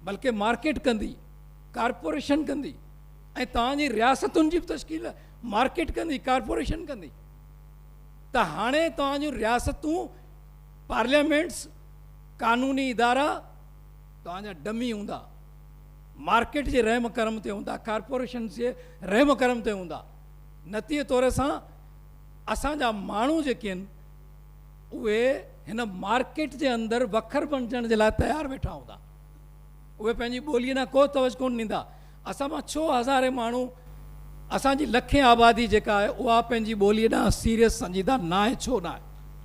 بلڪه مارڪيٽ ڪندي ڪارپوريشن ڪندي ۽ توهان جي رياستن جي تشڪيل مارڪيٽ ڪندي ڪارپوريشن ڪندي ته هاڻي توهان جون رياستون پارليامينٽس قانوني ادارا توهان جا ڊمي هوندا مارڪيٽ جي رحم ڪرم تي هوندا، ڪارپوريشنز جي رحم ڪرم تي هوندا. نتيجي طور سان اسان جا ماڻهو جيڪي آهن اهي هن مارڪيٽ جي اندر وکر بڻجڻ جي لاء تيار ويٺا هوندا. اهي پنهنجي ٻوليء ڏانهن ڪو توجھ ڪونه ڏيندا. اسان مان ڇهه هزارين ماڻهو اسان جي لکين آبادي جيڪا آهي اها پنهنجي ٻوليء ڏانهن سيريس سنجيده ناهي ڇو ناهي؟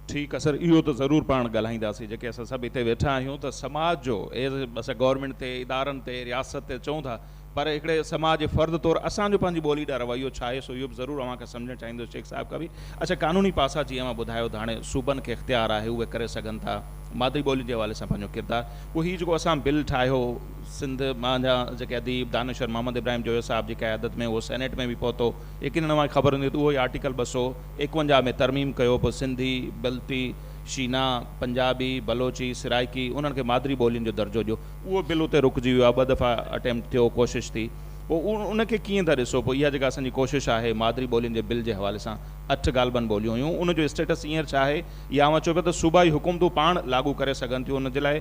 ٺيڪ آ سر اهو ته ضرور پاڻ ڳالهائينداسين جيڪي اسان سڀ هتي ويٺا آهيون ته سماج جو ايز اسان گورنمينٽ تي ادارن تي رياست تي چئون ٿا پر هڪڙي سماج جي فرد طور اسان جو پنهنجي ٻولي ڏا رويو ڇا آهي سو اهو به ضرور اوهان کان سمجهڻ چاهيندس شيخ صاحب کان به اڇا قانوني پاسا جيئن اوهان ٻڌايو ته هاڻي صوبن کي اختيار آهي اهي ڪري سگهن ٿا مادري ٻولي جي حوالي سان پنهنجو ڪردار پوء هي جيڪو اسان بل ٺاهيو سنڌ مان جا جيڪي اديب دانشور محمد ابراهيم جويو صاحب جي قيادت ۾ اهو سينيٽ ۾ به پهتو يقينن اوهان کي خبر هوندي ته اهو ئي آرٽيڪل ٻه سؤ ايڪونجاهه ۾ ترميم ڪيو پوء سنڌي، بلتي، شينا، پنجابي، بلوچي، سرائيڪي انهن کي مادري ٻولين جو درجو ڏيو. اهو بل اتي رڪجي ويو آهي ٻه دفعا اٽيمپٽ ٿيو ڪوشش ٿي پوء ان کي ڪيئن ٿا ڏسو پوء اها جيڪا اسان جي ڪوشش آهي مادري ٻولين جي بل جي حوالي سان اٺ غالبن ٻوليون هيون ان جو اسٽيٽس هينئر ڇا آهي يا اوهان چئو پيا ته صوبائي حڪومتون پاڻ لاڳو ڪري سگهن ٿيون ان جي لاء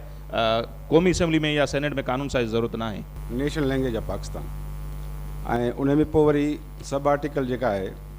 قومي اسيمبلي ۾ يا سينيٽ ۾ قانون سازي جي ضرورت ناهي. نيشنل لينگويج آف پاڪستان ۽ ان ۾ پوء وري سب آرٽيڪل جيڪا آهي.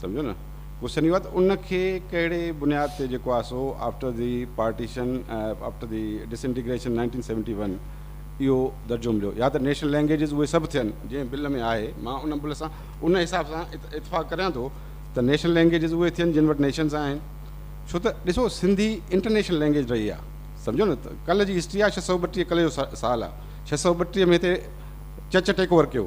سمجهيو نه ڪوشچن اهو آهي ته ان کي ڪهڙي بنياد تي جيڪو آهي سو after the partition after the disintegration nineteen seventy one اهو درجو مليو يا ته نيشنل لينگويجز اهي سڀ ٿين جنهن بل ۾ آهي مان ان بل سان ان حساب سان اتفاق ڪريان ٿو ته نيشنل لينگويجز اهي ٿين جن وٽ نيشنز آهن ڇو ته ڏسو سنڌي انٽرنيشنل لينگويج رهي آهي سمجهو نه ڪلهه جي هسٽري آهي ڇهه سؤ ٻٽيهه ڪلهه جو سال آهي ڇهه سؤ ٻٽيهه ۾ هتي چچ ٽيڪ اوور ڪيو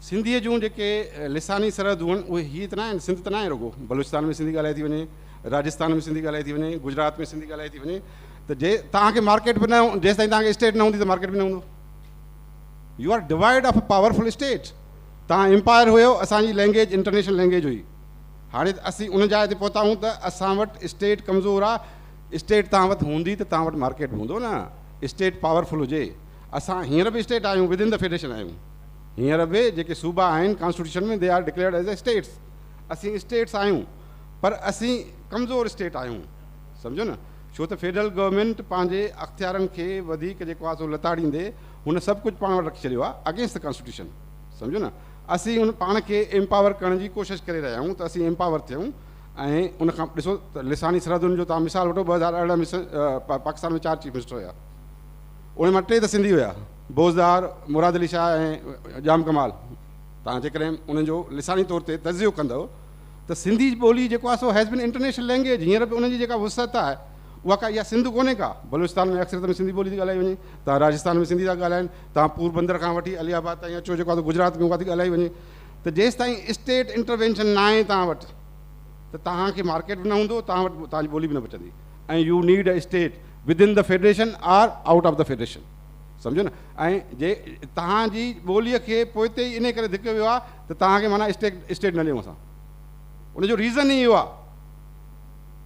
سنڌيء جون جيڪي لساني سرحدون آهن اهي هيء ته نه آهن، سنڌ ته نه آهي رڳو، بلوچستان ۾ سنڌي ڳالهائي ٿي وڃي، راجستان ۾ سنڌي ڳالهائي ٿي وڃي، گجرات ۾ سنڌي ڳالهائي ٿي وڃي ته جي توهان کي مارڪيٽ به نه جيستائين توهان کي اسٽيٽ نه هوندي ته مارڪيٽ به نه هوندو. You are divide of a powerful state. توهان امپائر هيو، اسان جي لينگيج انٽرنيشنل لينگيج هئي. هاڻي اسين ان جاء تي پهتا آهيون ته اسان وٽ اسٽيٽ ڪمزور آهي، اسٽيٽ توهان وٽ هوندي ته توهان وٽ مارڪيٽ به هوندو نه، اسٽيٽ پاور فل هجي. اسان هينئر به اسٽيٽ آهيون ود ان دي فيڊريشن آهيون هينئر به جيڪي صوبا آهن constitution ۾ they are declared as a states اسين اسٽيٽس آهيون پر اسين ڪمزور اسٽيٽ آهيون سمجهو نه ڇو ته فيڊرل گورنمينٽ پنهنجي اختيارن کي وڌيڪ جيڪو آهي سو لتاڙيندي هن سڀ ڪجهه پاڻ وٽ رکي ڇڏيو آهي اگينسٽ دي ڪانسٽيٽيوشن سمجهو نه اسين ان پاڻ کي امپاور ڪرڻ جي ڪوشش ڪري رهيا آهيون ته اسين امپاور ٿيون ۽ ان کان ڏسو ته لساني سرحدن جو تان مثال وٺو ٻه هزار ارڙهن ۾ پاڪستان ۾ چار چيف منسٽر هيا انهن مان ٽي ته سنڌي هيا، بوزدار، مراد علي شاهه ۽ ڄام ڪمال. توهان جيڪڏهن انهن جو لساني طور تي تجزيو ڪندؤ ته سنڌي ٻولي جيڪو آهي سو هيز بين انٽرنيشنل لينگويج، هينئر به ان جي جيڪا وسعت آهي اها ڪا اها سنڌ ڪونهي ڪا. بلوچستان ۾ اڪثريت ۾ سنڌي ٻولي ٿي ڳالهائي وڃي، توهان راجستان ۾ سنڌي ٿا ڳالهائين، توهان پوربندر کان وٺي علي آباد تائين اچو جيڪو آهي سو گجرات ۾ اها ٿي ڳالهائي وڃي ته جيستائين اسٽيٽ انٽروينشن ناهي توهان وٽ ته توهان کي مارڪيٽ به نه هوندو، توهان وٽ توهان جي ٻولي به نه بچندي ۽ you need a state. Within the Federation or Out of the Federation سمجهيو نه ۽ جي توهان جي ٻولي کي پوئتي ئي انهي ڪري ڌڪيو ويو آهي ته توهان کي معنيٰ اسٽيڪ اسٽيٽ نه ڏيون اسان ان جو ريزن ئي اهو آهي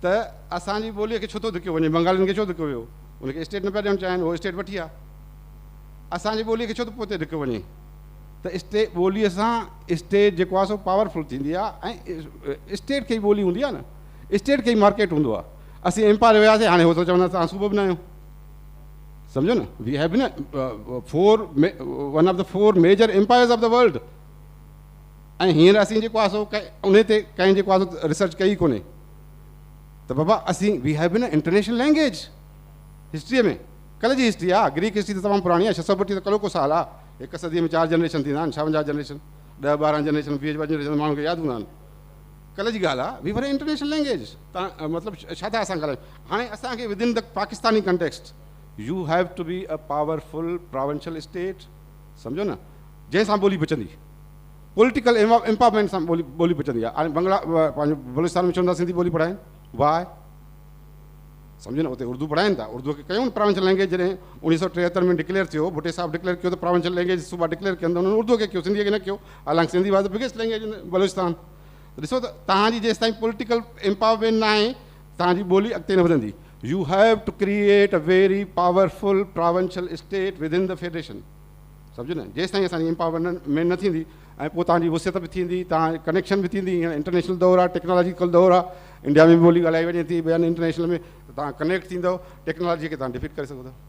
ته اسان جي ٻولي کي ڇو ٿو ڌڪيو وڃي بنگالين کي ڇو ڌڪيو ويو ان کي اسٽيٽ نه پيا ڏيڻ چاهين اهو اسٽيٽ وٺي آهي اسان جي ٻولي کي ڇو ٿو پوئتي ڌڪيو وڃي ته اسٽي ٻولي سان اسٽيٽ جيڪو آهي سو پاورفل ٿيندي آهي ۽ اسٽيٽ کي ئي ٻولي هوندي آهي نه اسٽيٽ کي ئي مارڪيٽ هوندو آهي اسين امپال وياسين هاڻي هو ته چوندا ته صوبو به نه آهيون سمجھو نه we have been four one of the four major empires of the world ۽ هينئر اسين جيڪو آسو ان تي ڪنهن جيڪو آسو ريسرچ ڪئي ڪونهي ته بابا اسين we have been international language هسٽريء ۾ ڪل جي هسٽري آ گريڪ هسٽري ته تمام پراڻي آ ڇهه سؤ ٻٽيهه ته ڪلو ڪو سال آ هڪ صديء ۾ چار جنريشن ٿيندا آهن ڇاونجاهه جنريشن ڏهه ٻارهن جنريشن ويهه جنريشن ماڻهن کي ياد هوندا آهن ڪلهه جي ڳالهه آهي we were an international language تان مطلب ڇا ٿا اسان ڳالهايون هاڻي اسان کي within the Pakistani context you have to be a powerful provincial state سمجهو نه جنهن سان ٻولي بچندي پوليٽيڪل امپاورمينٽ سان ٻولي بچندي آهي هاڻي بنگلا پنهنجو بلوچستان ۾ چون ٿا سنڌي ٻولي پڙهائين واء سمجهو نه اتي اردو پڙهائين ٿا اردو کي ڪيون پراونشل لينگيج جڏهن اوڻيهه سو ٽيهتر ۾ ڊڪليئر ٿيو بٽي صاحب ڊڪليئر ڪيو ته پراونشل لينگيج صوبا ڊڪليئر ڪيا انهن اردو کي ڪيو سنڌي کي نه ڪيو حالانڪ Sindhi was the biggest language in Balochistan ڏسو ته توهان جي جيستائين پوليٽيڪل امپاورمينٽ نه آهي توهان جي ٻولي اڳتي نه وڌندي you have to create a very powerful provincial state within the federation سمجهو نه جيستائين اسان جي امپاورمينٽ نه ٿيندي ۽ پوء توهان جي وسعت به ٿيندي توهان ڪنيڪشن به ٿيندي هينئر انٽرنيشنل دور آهي ٽيڪنالاجيڪل دور آهي انڊيا ۾ به ٻولي ڳالهائي وڃي ٿي ٻين انٽرنيشنل ۾ توهان ڪنيڪٽ ٿيندو ٽيڪنالاجي کي توهان ڊفيٽ ڪري سگهو ٿا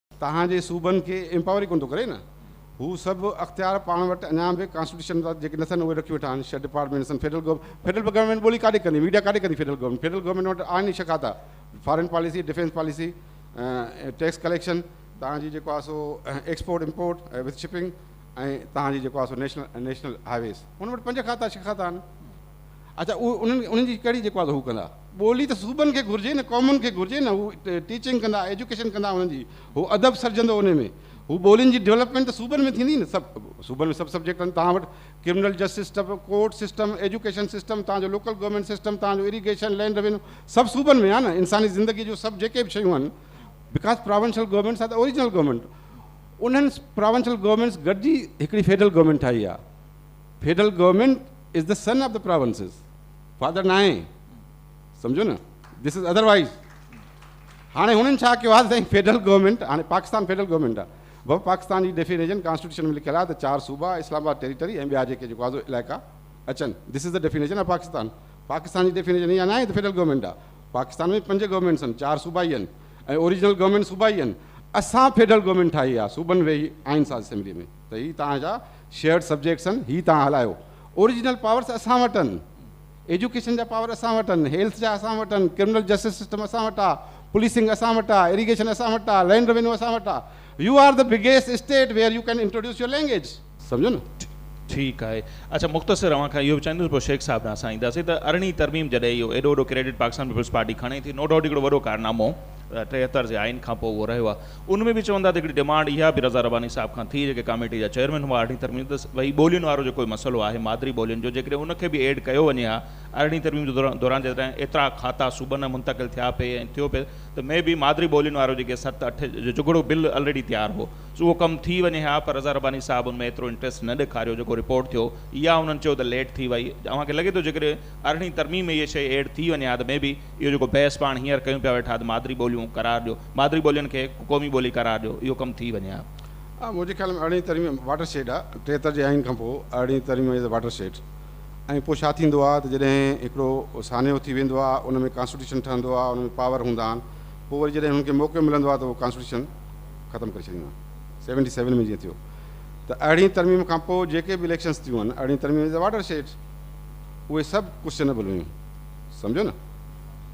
توهان جي صوبن کي ايمپاور ئي ڪونه ٿو ڪري نه. هو سڀ اختيار پاڻ وٽ اڃا به ڪانسٽيٽيوشن تحت جيڪي نٿن اهي رکي ويٺا آهن شھ ڊپارٽمينٽ سندن فيڊرل گورنمينٽ فيڊرل گورنمينٽ ٻولي ڪاڏي ڪندي ميڊيا ڪاڏي ڪندي فيڊرل گورنمينٽ فيڊرل گورنمينٽ وٽ آهن ئي شھ کاتا foreign policy defence policy tax collection توهان جي جيڪو آهي سو ايڪسپورٽ امپورٽ وٿ شپنگ ۽ توهان جي جيڪو آهي سو نيشنل نيشنل هاء ويز هن وٽ پنج کاتا شھ کاتا آهن اچا اهو انهن انهن جي ڪهڙي جيڪو آهي سو هو ڪندا. ٻولي ته صوبن کي گهرجي نه قومن کي گهرجي نه هو ٽيچنگ ڪندا ايجوڪيشن ڪندا انهن جي هو ادب سرجندو انهي ۾ هو ٻولين جي ڊولپمينٽ ته صوبن ۾ ٿيندي نه سڀ صوبن ۾ سڀ سبجيڪٽ آهن توهان وٽ criminal justice system court system education system توهان جو لوڪل گورنمينٽ سسٽم توهان جو اريگيشن لينڊ روينو سڀ صوبن ۾ آهن انساني زندگي جو سڀ جيڪي به شيون آهن because provincial governments are original government انهن پراونشل گورنمينٽس گڏجي هڪڙي فيڊرل گورنمينٽ ٺاهي آهي federal government is the son of the provinces father ناهي سمجهو نه دس از اڌر وائيز هاڻي هنن ڇا ڪيو آهي سائين فيڊرل گورنمينٽ هاڻي پاڪستان فيڊرل گورنمينٽ آهي بابا پاڪستان جي ڊيفينيشن ڪانسٽيٽيوشن ۾ لکيل آهي ته چار صوبا اسلام آباد ٽيريٽري ۽ ٻيا جيڪي جيڪو آزو علائقا اچن this is the definition of Pakistan Pakistan جي ڊيفينيشن اها ناهي ته فيڊرل گورنمينٽ آهي پاڪستان ۾ پنج گورنمينٽس آهن چار صوبا ئي آهن ۽ اوريجنل گورنمينٽ صوبا ئي آهن اسان فيڊرل گورنمينٽ ٺاهي آهي صوبن ويهي آئين ساز اسيمبلي ۾ ته هي تان جا شيئرڊ سبجيڪٽس آهن هي توهان هلايو. اوريجنل پاورس اسان وٽ آهن. ايجوڪيشن جا پاور اسان وٽ آهن، هيلٿ جا اسان وٽ آهن، ڪرمنل جسٽس سسٽم اسان وٽ آهي، پوليسنگ اسان وٽ آهي، اريگيشن اسان وٽ آهي، لينڊ روينيو اسان وٽ آهي. You are the biggest state where you can introduce your language. سمجهيو نه؟ ٺيڪ آهي. اڇا مختصر اوهان کان اهو به چاهيندس پوء شيخ صاحب ڏانهن اسان اينداسين ته ارڙهين ترميم جڏهن اهو ايڏو وڏو ڪريڊٽ پاڪستان پيپلز پارٽي کڻي ٿي نو ڊائوٽ هڪڙو وڏو ڪارنامو ٽيهتر جي آئين کانپوء اهو رهيو آهي ان ۾ به چون ٿا ته هڪڙي ڊمانڊ اها به رضا رباني صاحب کان ٿي جيڪي ڪاميٽي جا چيئرمين هئا ارڙهين ترميم ته وهي ٻولين وارو جيڪو مسئلو آهي مادري ٻولين جو جيڪڏهن ان کي به ايڊ ڪيو وڃي ها ارڙهين ترميم جي دوران جڏهن ايترا کاتا صوبن ۾ منتقل ٿيا پئي ۽ ٿيو پئي ته مي بي مادري ٻولين وارو جيڪي ست اٺ جو جھڳڙو بل الريڊي تيار هو سو اهو ڪم ٿي وڃي ها پر رضا رباني صاحب ان ۾ ايترو انٽريسٽ نه ڏيکاريو جيڪو رپورٽ ٿيو اها انهن چيو ته ليٽ ٿي وئي اوهان کي لڳي ٿو جيڪڏهن ارڙهين ترميم ۾ اهي شئي ايڊ ٿي وڃي ها ته مي بي اهو جيڪو بحث پاڻ هينئر ڪيون پيا ويٺا ته مادري ٻوليون قرار ڏيو مادري ٻولين کي قومي ٻولي قرار ڏيو اهو ڪم ٿي وڃي ها. منهنجي خيال ۾ ارڙهين ترميم واٽر شيڊ آ ٽيهتر جي آئين کان پوء ارڙهين ترميم از واٽر شيڊ ۽ پوء ڇا ٿيندو آ ته جڏهن هڪڙو سانحو ٿي ويندو آ ان ۾ ڪانسٽيٽيوشن ٺهندو آ ان ۾ پاور هوندا آهن پوء وري جڏهن هنن کي موقعو ملندو آ ته هو ڪانسٽيٽيوشن ختم ڪري ڇڏيندا آهن سيونٽي سيون ۾ جيئن ٿيو ته ارڙهين ترميم کان پوء جيڪي به اليڪشنس ٿيون آهن ارڙهين ترميم از واٽر شيڊ اهي سڀ ڪوسچنبل هيون سمجهو نه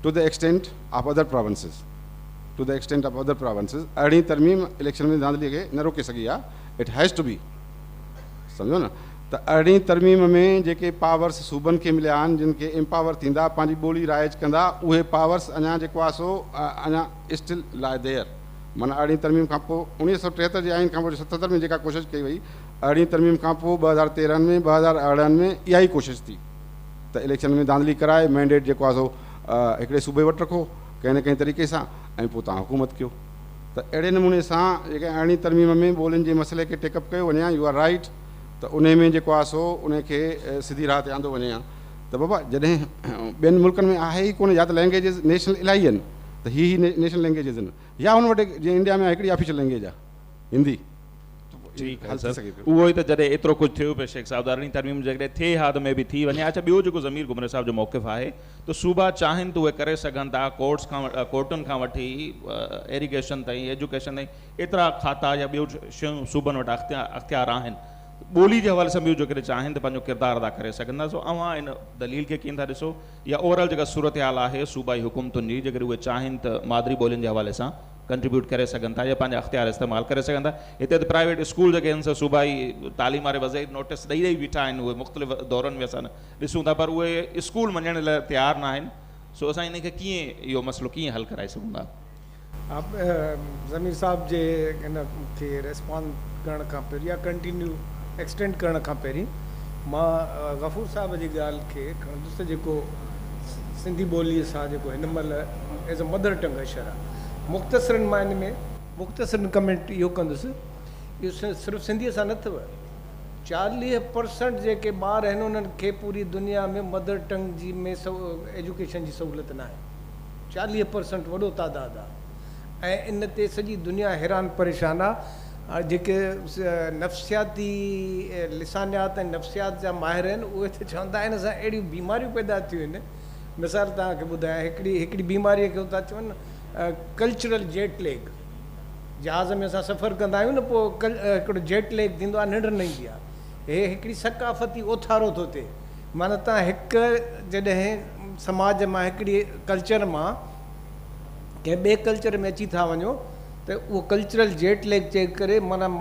to the extent of other provinces. To the extent of other provinces ارڙهين ترميم اليڪشن ۾ ڌانڌلي کي نه روڪي سگهي آهي اٽ هيز ٽو بي سمجهو نه ته ارڙهين ترميم ۾ جيڪي پاورس صوبن کي مليا آهن جن کي امپاور ٿيندا پنهنجي ٻولي رائج ڪندا اهي پاورس اڃا جيڪو آهي سو اڃا اسٽل لائي ديئر معنيٰ ارڙهين ترميم کان پوء اڻيهه سؤ ٽيهتر جي آئين کان پوء ستهتر ۾ جيڪا ڪوشش ڪئي وئي ارڙهين ترميم کان پوء ٻه هزار تيرهن ۾ ٻه هزار ارڙهن ۾ اها ئي ڪوشش ٿي ته اليڪشن ۾ ڌانڌلي ڪرائي مينڊيٽ جيڪو آهي سو هڪڙي صوبي وٽ رکو ڪنهن نه ڪنهن طريقي سان ۽ پوء توهان حڪومت ڪيو ته اهڙي نموني سان جيڪڏهن ارڙهين ترميم ۾ ٻولين جي مسئلي کي ٽيڪ اپ ڪيو وڃي ها يو آر رائيٽ ته انهي ۾ جيڪو آهي سو انهي کي سڌي راهه تي آندو وڃي ها ته بابا جڏهن ٻين ملڪن ۾ آهي ئي ڪونه يا ته لينگيجز نيشنل الائي آهن ته هي هي نيشنل لينگيجز آهن يا هن وٽ جيئن انڊيا ۾ آهي هڪڙي آفيشل لينگيج آهي هندي ٺيڪ آهي سر اهو ئي ته جڏهن ايترو ڪجهه ٿيو پيو شيخ صاحب ته ارڙهين ترميم جيڪڏهن ٿئي ها ته مي بي ٿي وڃي ها اڇا ٻيو جيڪو ضمير گهمري صاحب جو موقف آهي ته صوبا چاهين ته اهي ڪري سگهن ٿا، ڪورٽس کان ڪورٽن کان وٺي ايريگيشن تائين، ايجوڪيشن تائين ايترا کاتا يا ٻيون شيون صوبن وٽ اختيار آهن، ٻولي جي حوالي سان به اهو جيڪڏهن چاهين ته پنهنجو ڪردار ادا ڪري سگهن ٿا، سو اوهان ان دليل کي ڪيئن ٿا ڏسو يا اوور آل جيڪا صورتحال آهي صوبائي حڪومتن جي جيڪڏهن اهي چاهين ته مادري ٻولين جي حوالي سان ڪنٽريبيوٽ ڪري سگهن ٿا يا پنهنجا اختيار استعمال ڪري سگهن ٿا هتي ته پرائيويٽ اسڪول جيڪي آهن سا صوبائي تعليم واري وزير نوٽس ڏئي ڏئي بيٺا آهن اهي مختلف دورن ۾ اسان ڏسون ٿا پر اهي اسڪول مڃڻ لاء تيار نه آهن سو اسان انهن کي ڪيئن اهو مسئلو ڪيئن حل ڪرائي سگهون ٿا. آب ضمير صاحب جي ان کي ريسپانس ڪرڻ کان پهرين يا ڪنٽينيو ايڪسٽينڊ ڪرڻ کان پهرين مان غفور صاحب جي ڳالهه کي کڻندس ته جيڪو سنڌي ٻولي سان جيڪو هن مهل ايز اي مدر ٽنگ اشر آهي مختصرن معني ۾ مختصرن ڪمينٽ اهو ڪندس اهو صرف سنڌي سان نه اٿئو چاليهه پرسنٽ جيڪي ٻار آهن انهن کي پوري دنيا ۾ مدر ٽنگ جي ۾ ايجوڪيشن جي سهولت ناهي چاليهه پرسنٽ وڏو تعداد آهي ۽ ان تي سڄي دنيا حيران پريشان آهي جيڪي نفسياتي لسانيات ۽ نفسيات جا ماهر آهن اهي ته چون ٿا ان سان اهڙيون بيماريون پيدا ٿيون آهن مثال توهان کي ٻڌايان هڪڙي هڪڙي بيماري کي چون ٿا ڪلچرل جيٽ ليگ جهاز ۾ اسان سفر ڪندا آهيون نه پوء هڪڙو جيٽ ليگ ٿيندو آهي ننڊ نه ايندي آهي هي هڪڙي ثقافتي اوٿارو ٿو ٿئي معنيٰ تان هڪ جڏهن سماج مان هڪڙي ڪلچر مان ڪنهن ٻئي ڪلچر ۾ اچي ٿا وڃو ته اهو ڪلچرل جيٽ ليگ چئي ڪري مانا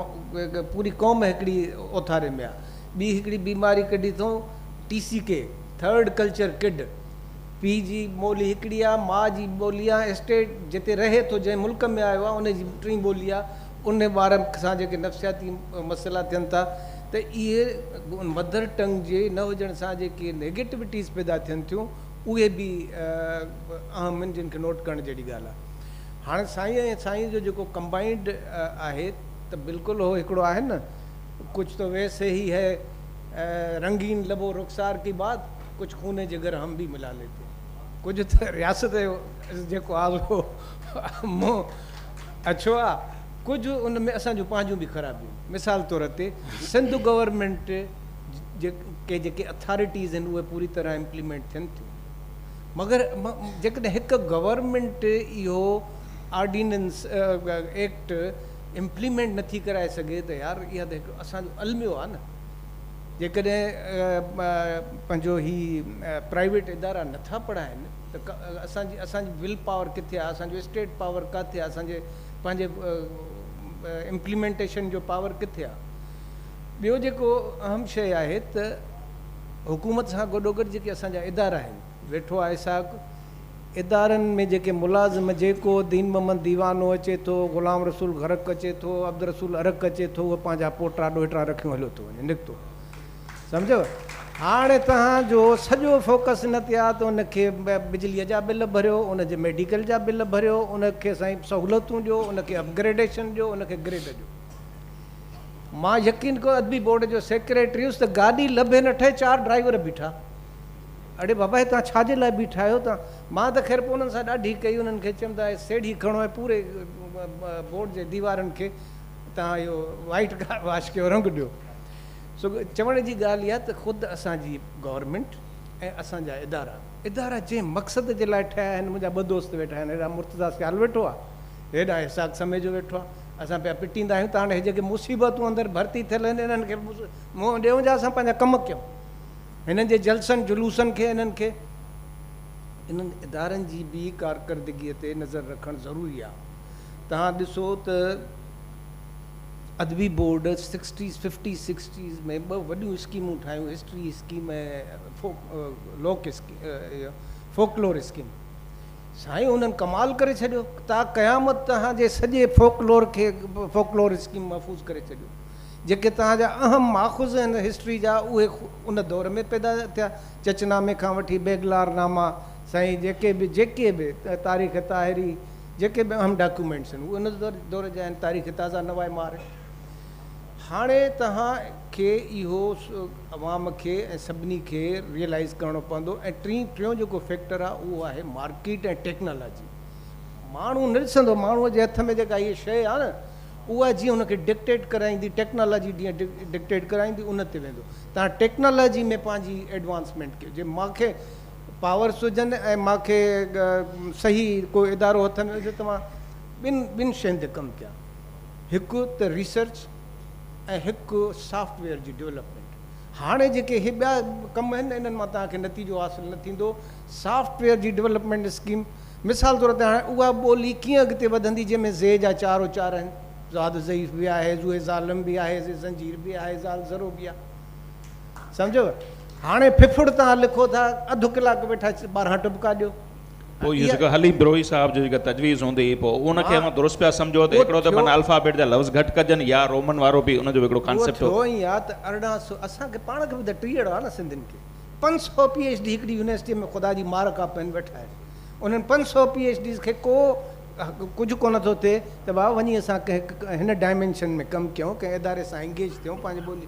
پوري قوم هڪڙي اوٿاري ۾ آهي ٻي هڪڙي بيماري ڪڍي اٿئون T C K third culture kid پيء جي ٻولي هڪڙي آهي، ماء جي ٻولي آهي، اسٽيٽ جتي رهي ٿو، جنهن ملڪ ۾ آيو آهي، ان جي ٽين ٻولي آهي، ان ٻار سان جيڪي نفسياتي مسئلا ٿين ٿا ته اهي مدر ٽنگ جي نه هجڻ سان جيڪي نيگيٽوٽيز پيدا ٿين ٿيون اهي به اهم آهن جن کي نوٽ ڪرڻ جهڙي ڳالهه آهي. هاڻي سائين ۽ سائينء جو جيڪو ڪمبائنڊ آهي ته بلڪل هو هڪڙو آهي نه ڪچ تو ويسي هي هي رنگين لبو رخسار ڪي بات. ڪجهه خون جگر هم ڀي ملا ليتي ڪجهه ته رياست جو جيڪو آ سو منهن اڇو آ ڪجهه ان ۾ اسان جون پنهنجون ڀي خرابيون مثال طور تي سنڌ گورنمينٽ جي ڪي جيڪي اٿارٽيز هن اهي پوري طرح امپليمينٽ ٿين ٿيون مگر جيڪڏهن هڪ گورنمينٽ اهو آرڊيننس ايڪٽ امپليمينٽ نٿي ڪرائي سگهي ته يار اها ته هڪ اسان جو الميو آ نه جيڪڏهن پنهنجو هي پرائيويٽ ادارا نٿا پڙهائين ته اسان جي اسان جي ول پاور ڪٿي آهي اسان جو اسٽيٽ پاور ڪاٿي آهي اسان جي پنهنجي امپليمينٽيشن جو پاور ڪٿي آهي ٻيو جيڪو اهم شيء آهي ته حڪومت سان گڏوگڏ جيڪي اسان جا ادارا آهن ويٺو آهي ساڳ ادارن ۾ جيڪي ملازم جيڪو دين محمد ديوانو اچي ٿو غلام رسول غرق اچي ٿو عبدالرسول ارق اچي ٿو اهو پنهنجا پوٽا ڏوهٽا رکيون هليو ٿو وڃي نڪتو سمجهيو هاڻي توهان جو سڄو فوڪس ان تي آهي ته ان کي بجلي جا بل ڀريو ان جي ميڊيڪل جا بل ڀريو ان کي سائين سهولتون ڏيو ان کي اپگريڊيشن ڏيو ان کي گريڊ ڏيو مان يقين ڪيو ادبي بورڊ جو سيڪريٽري هيس ته گاڏي لڀي نه ٺهي چار ڊرائيور بيٺا اڙي بابا هي توهان ڇا جي لاء بيٺا آهيو تان؟ مان ته خير پوء انهن سان ڏاڍي ڪئي انهن کي چيم ته هي سيڙهي کڻو ۽ پوري بورڊ جي ديوارن کي توهان اهو وائيٽ ڪار واش ڪيو رنگ ڏيو سو چوڻ جي ڳالهه اها ته خود اسان جي گورنمينٽ ۽ اسان جا ادارا ادارا جنهن مقصد جي لاء ٺهيا آهن منهنجا ٻه دوست ويٺا آهن هيڏانهن مرتضيٰ سيال ويٺو آهي هيڏانهن اسحاق سميجو ويٺو آهي اسان پيا پٽيندا آهيون ته هاڻي هي جيڪي مصيبتون اندر ڀرتي ٿيل آهن انهن کي منهن ڏيون جا اسان پنهنجا ڪم ڪيون هنن جي جلسن جلوسن کي انهن کي انهن ادارن جي به ڪارڪردگي تي نظر رکڻ ضروري آهي توهان ڏسو ته ادبي بورڊ سڪسٽيز ففٽيز سڪسٽيز ۾ ٻه وڏيون اسڪيمون ٺاهيون هسٽري اسڪيم ۽ لوڪ فوڪلور اسڪيم سائين انهن ڪمال ڪري ڇڏيو تا قيامت توهان جي سڄي فوڪلور کي فوڪلور اسڪيم محفوظ ڪري ڇڏيو جيڪي توهان جا اهم ماخذ آهن هسٽري جا اهي ان دور ۾ پيدا ٿيا چچ نامي کان وٺي بيگلار ناما سائين جيڪي به جيڪي به تاريخ طاهري جيڪي به اهم ڊاڪيومينٽس آهن اهي ان دور جا آهن تاريخ تازه نوائي مارئي هاڻي توهان کي اهو عوام کي ۽ سڀني کي ريئلائز ڪرڻو پوندو ۽ ٽين ٽيون جيڪو فيڪٽر آهي اهو آهي مارڪيٽ ۽ ٽيڪنالاجي ماڻهو نه ڏسندو ماڻهو جي هٿ ۾ جيڪا هي شيء آهي نه اها جيئن ان کي ڊڪٽيٽ ڪرائيندي، ٽيڪنالاجي جيئن ڊڪٽيٽ ڪرائيندي ان تي ويندو. تان ٽيڪنالاجي ۾ پنهنجي ايڊوانسمينٽ ڪيو. جي مان کي پاورس هجن ۽ مان کي صحيح ڪو ادارو هٿ ۾ هجي ته مان ٻن ٻن شين تي ڪم ڪيان. هڪ ته ريسرچ ۽ هڪ سافٽ ويئر جي ڊولپمينٽ. هاڻي جيڪي هي ٻيا ڪم آهن انهن مان توهان کي نتيجو حاصل نه ٿيندو. سافٽ ويئر جي ڊولپمينٽ اسڪيم مثال طور تي هاڻي اها ٻولي ڪيئن اڳتي وڌندي جنهن ۾ زي جا چار اچار آهن، زاد ضعيف به آهي، زوء ظالم به آهي، زي زنجير به آهي، زال ذرو به آهي. سمجهيو؟ هاڻي ڦڦڙ تان لکو ٿا، اڌ ڪلاڪ ويٺا ٻارهن ٽٻڪا ڏيو. پوء اهو جيڪا علي بروهي صاحب جي جيڪا تجويز هوندي پوء ان کي اوهان درست پيا سمجهو ته هڪڙو ته معنيٰ الفابيٽ جا لفظ گهٽ ڪجن يا رومن وارو به ان جو به هڪڙو ڪانسيپٽ هو. اهو ٿيو ائين آهي ته ارڙهن سو اسان کي پاڻ کي به ته ٽيهڙ آهي نه سنڌين کي. پنج سؤ پي ايڇ ڊي هڪڙي يونيورسٽيء ۾ خدا جي مار کان پين ويٺا آهن. انهن پنج سؤ پي ايڇ ڊيز کي ڪو ڪجهه ڪونه ٿو ٿئي ته بابا وڃي اسان ڪنهن هن ڊائمينشن ۾ ڪم ڪيون، ڪنهن اداري سان انگيج ٿيون، پنهنجي ٻولي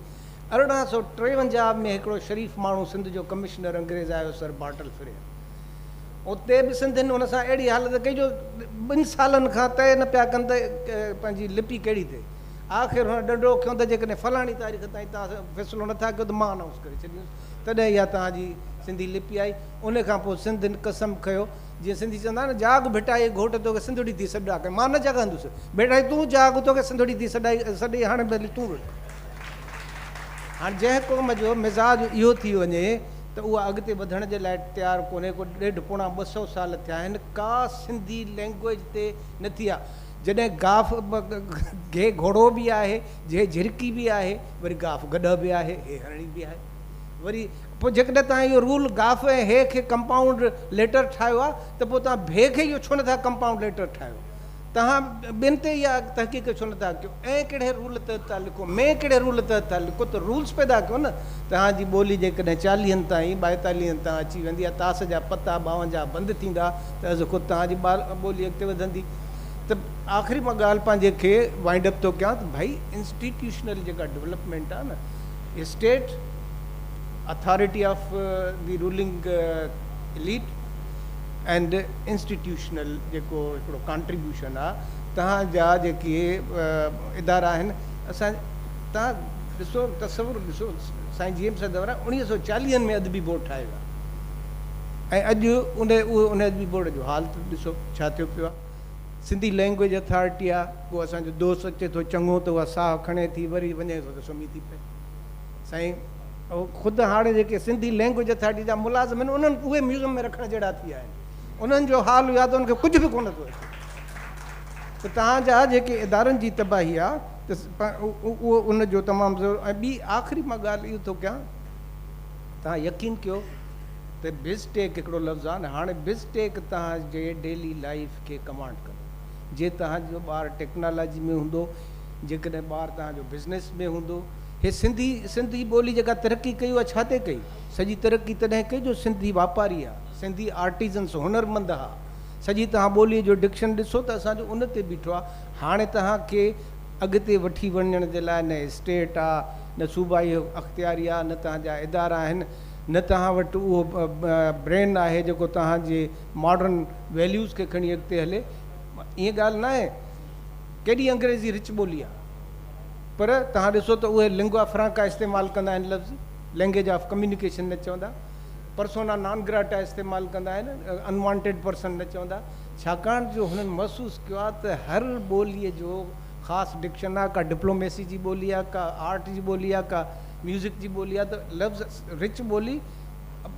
ارڙهن سؤ ٽيونجاهه ۾ هڪڙو شريف ماڻهو سنڌ جو ڪمشنر انگريز آيو سر بارٽل فريئر. اتي به سنڌين ان سان اهڙي حالت ڪئي جو ٻن سالن کان طئي نه پيا ڪن ته پنهنجي لپي ڪهڙي ٿئي. آخر هن ڏنڊو کنيو ته جيڪڏهن فلاڻي تاريخ تائين توهان فيصلو نه ٿا ڪيو ته مان انائونس ڪري ڇڏيندس تڏهن اها توهان جي سنڌي لپي آئي ان کان پوء سنڌين قسم کنيو جيئن سنڌي چوندا آهن نه جاڳ ڀٽائي گهوٽ توکي سنڌڙي ٿي سڏ آڪي مان نه جاڳندس ڀٽائي تون جاڳ توکي سنڌڙي ٿي سڏائي سڏي هاڻي ڀلي تون رڙ هاڻي جنهن قوم جو مزاج اهو ٿي وڃي ته اها اڳتي وڌڻ جي لاء تيار ڪونهي ڪو ڏيڍ پوڻا ٻه سؤ سال ٿيا آهن ڪا سنڌي لينگويج تي نٿي آ جڏهن گاف گهي گهوڙو به آهي، جهي جهرڪي به آهي، وري گاف گڏهه به آهي، هي هرڻي به آهي. وري پوء جيڪڏهن توهان اهو رول گاف ۽ هي کي ڪمپائونڊ ليٽر ٺاهيو آهي ته پوء توهان ڀي کي اهو ڇو نه ٿا ڪمپائونڊ ليٽر ٺاهيو؟ توهان ٻين تي اها تحقيق ڇو نه ٿا ڪيو؟ ائين ڪهڙي رول تحت ٿا لکو؟ مين ڪهڙي رول تحت ٿا لکو؟ ته رولز پيدا ڪيو نه. توهان جي ٻولي جيڪڏهن چاليهن تائين، ٻائيتاليهن تان اچي ويندي ۽ تاس جا پتا ٻاونجاهه بند ٿيندا ته از خود توهان جي ٻولي اڳتي وڌندي. ته آخري مان ڳالهه پنهنجي کي وائنڊ اپ ٿو ڪيان ته ڀائي انسٽيٽيوشنل جيڪا ڊيولپمينٽ آهي نه state authority of the ruling lead and institutional جيڪو هڪڙو ڪانٽريبيوشن آهي تهان جا جيڪي ادارا آهن اسان تهان ڏسو تصور ڏسو سائين جي ايم سا دورا اڻيهه سو چاليهن ۾ ادبي بورڊ ٺاهيو ويو ۽ اڄ ان اهو ان ادبي بورڊ جو حال ڏسو ڇا ٿيو پيو آ سنڌي لينگويج اٿارٽي آ ڪو اسان جو دوست اچي ٿو چڱو ته اها ساهه کڻي ٿي وري وڃي ٿو ته سمهي ٿي پئي سائين خود هاڻي جيڪي سنڌي لينگويج اٿارٽي جا ملازم آهن انهن اهي ميوزم ۾ رکڻ جهڙا ٿي ويا آهن انهن جو حال يا ته انهن کي ڪجهه به ڪونه ٿو اچي ته توهان جا جيڪي ادارن جي تباهي آ ته اهو ان جو تمام ضرور ۽ ٻي آخري مان ڳالهه اهو ٿو ڪيان توهان يقين ڪيو ته بزٽيڪ هڪڙو لفظ آهي نه هاڻي بزٽيڪ توهان جي ڊيلي لائيف کي ڪمانڊ ڪندو جي توهان جو ٻار ٽيڪنالاجي ۾ هوندو جيڪڏهن ٻار توهان جو بزنس ۾ هوندو هي سنڌي سنڌي ٻولي جيڪا ترقي ڪئي اها ڇا تي ڪئي سڄي ترقي تڏهن ڪئي جو سنڌي واپاري ها سنڌي آرٽيزنس هنر مند ها سڄي توهان ٻولي جو ڊڪشن ڏسو ته اسان جو ان تي بيٺو آهي هاڻي توهان کي اڳتي وٺي وڃڻ جي لاء نه اسٽيٽ آ نه صوبائي اختياري آ نه توهان جا ادارا آهن نه توهان وٽ اهو برين آهي جيڪو توهان جي ماڊرن ويليوز کي کڻي اڳتي هلي ائين ڳالهه ناهي ڪيڏي انگريزي رچ ٻولي آ پر توهان ڏسو ته اهي لنگوا فرانڪا استعمال ڪندا آهن لفظ لينگيج آف ڪميونيڪيشن نه چوندا پرسونا نان گراٽا استعمال ڪندا آهن انوانٽيڊ پرسن نه چوندا ڇاڪاڻ جو هنن محسوس ڪيو آهي ته هر ٻوليء جو خاص ڊڪشن آهي، ڪا ڊپلوميسي جي ٻولي آهي، ڪا آرٽ جي ٻولي آهي، ڪا ميوزڪ جي ٻولي آهي ته لفظ رچ ٻولي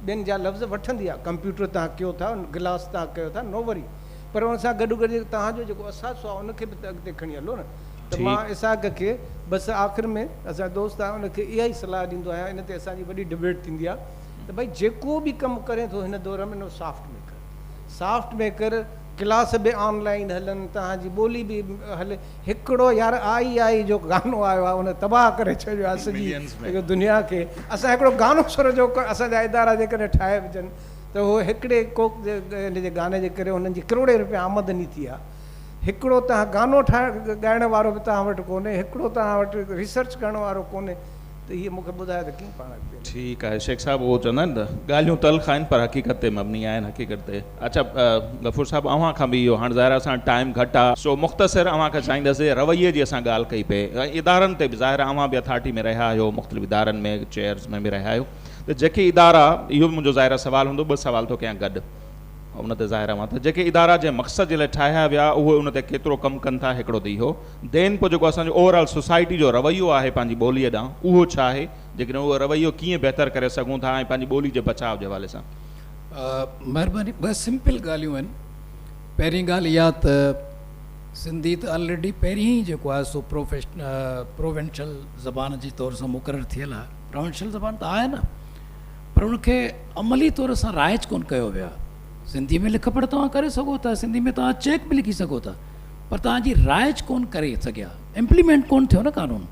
ٻين جا لفظ وٺندي آهي، ڪمپيوٽر توهان ڪيو ٿا، گلاس توهان ڪيو ٿا، نو وري پر ان سان گڏو گڏ توهان جو جيڪو اثاثو آهي ان کي به ته اڳتي کڻي هلو نه ته مان اسحاق کي بس آخر ۾ اسان جو دوست آهي ان کي اها ئي صلاح ڏيندو آهيان ان تي اسان جي وڏي ڊبيٽ ٿيندي آهي ته ڀائي جيڪو به ڪم ڪرين ٿو هن دور ۾ نو soft maker soft maker class به آن لائين هلن توهان جي ٻولي به هلي هڪڙو يار آء آء جو گانو آيو آهي ان تباهه ڪري ڇڏيو آهي سڄي دنيا کي اسان هڪڙو گانو سر جو اسان جا ادارا جيڪڏهن ٺاهي وجن ته هو هڪڙي ڪوڪ ان جي گاني جي ڪري انهن جي ڪروڙين روپيا آمدني ٿي آهي هڪڙو توهان گانو ٺاهڻ ڳائڻ وارو به توهان وٽ ڪونهي هڪڙو توهان وٽ ريسرچ ڪرڻ وارو ڪونهي ته هيء مون کي ٻڌايو ته ڪيئن پاڻ اڳتي وڌي. ٺيڪ آهي شيخ صاحب اهو چوندا آهن نه ڳالهيون تلخ آهن پر حقيقت تي مبني آهن حقيقت تي اڇا غفور صاحب اوهان کان به اهو هاڻ ظاهر آهي اسان ٽائيم گهٽ آهي سو مختصر اوهان کان چاهيندس جي رويي جي اسان ڳالهه ڪئي پئي ۽ ادارن تي به ظاهر آهي اوهان به اٿارٽي ۾ رهيا آهيو مختلف ادارن ۾ چيئرز ۾ به رهيا آهيو ته جيڪي ادارا اهو به منهنجو ظاهر آهي سوال هوندو ٻه سوال ٿو ڪيان گڏ ان تي ظاهر آهي اوهان ته جيڪي ادارا جنهن مقصد جي لاء ٺاهيا ويا اهي ان تي ڪيترو ڪم ڪن ٿا هڪڙو ته اهو دين پوء جيڪو اسان جو اوور آل سوسائٽي جو رويو آهي پنهنجي ٻوليء ڏانهن اهو ڇا آهي؟ جيڪڏهن اهو رويو ڪيئن بهتر ڪري سگهون ٿا ۽ پنهنجي ٻولي جي بچاء جي حوالي سان؟ مهرباني ٻه سمپل ڳالهيون آهن پهرين ڳالهه اها ته سنڌي ته آلريڊي پهرين ئي جيڪو آهي سو پروفيشن پروونشل زبان جي طور سان مقرر ٿيل آهي پروونشل زبان ته آهي نه پر ان کي عملي طور سان رائج ڪونه ڪيو ويو آهي سنڌي ۾ لک پڙهه توهان ڪري سگهو ٿا سنڌي ۾ توهان چيڪ به لکي سگهو ٿا پر توهان جي رائج ڪون ڪري سگهيا امپليمينٽ ڪون ٿيو نه قانون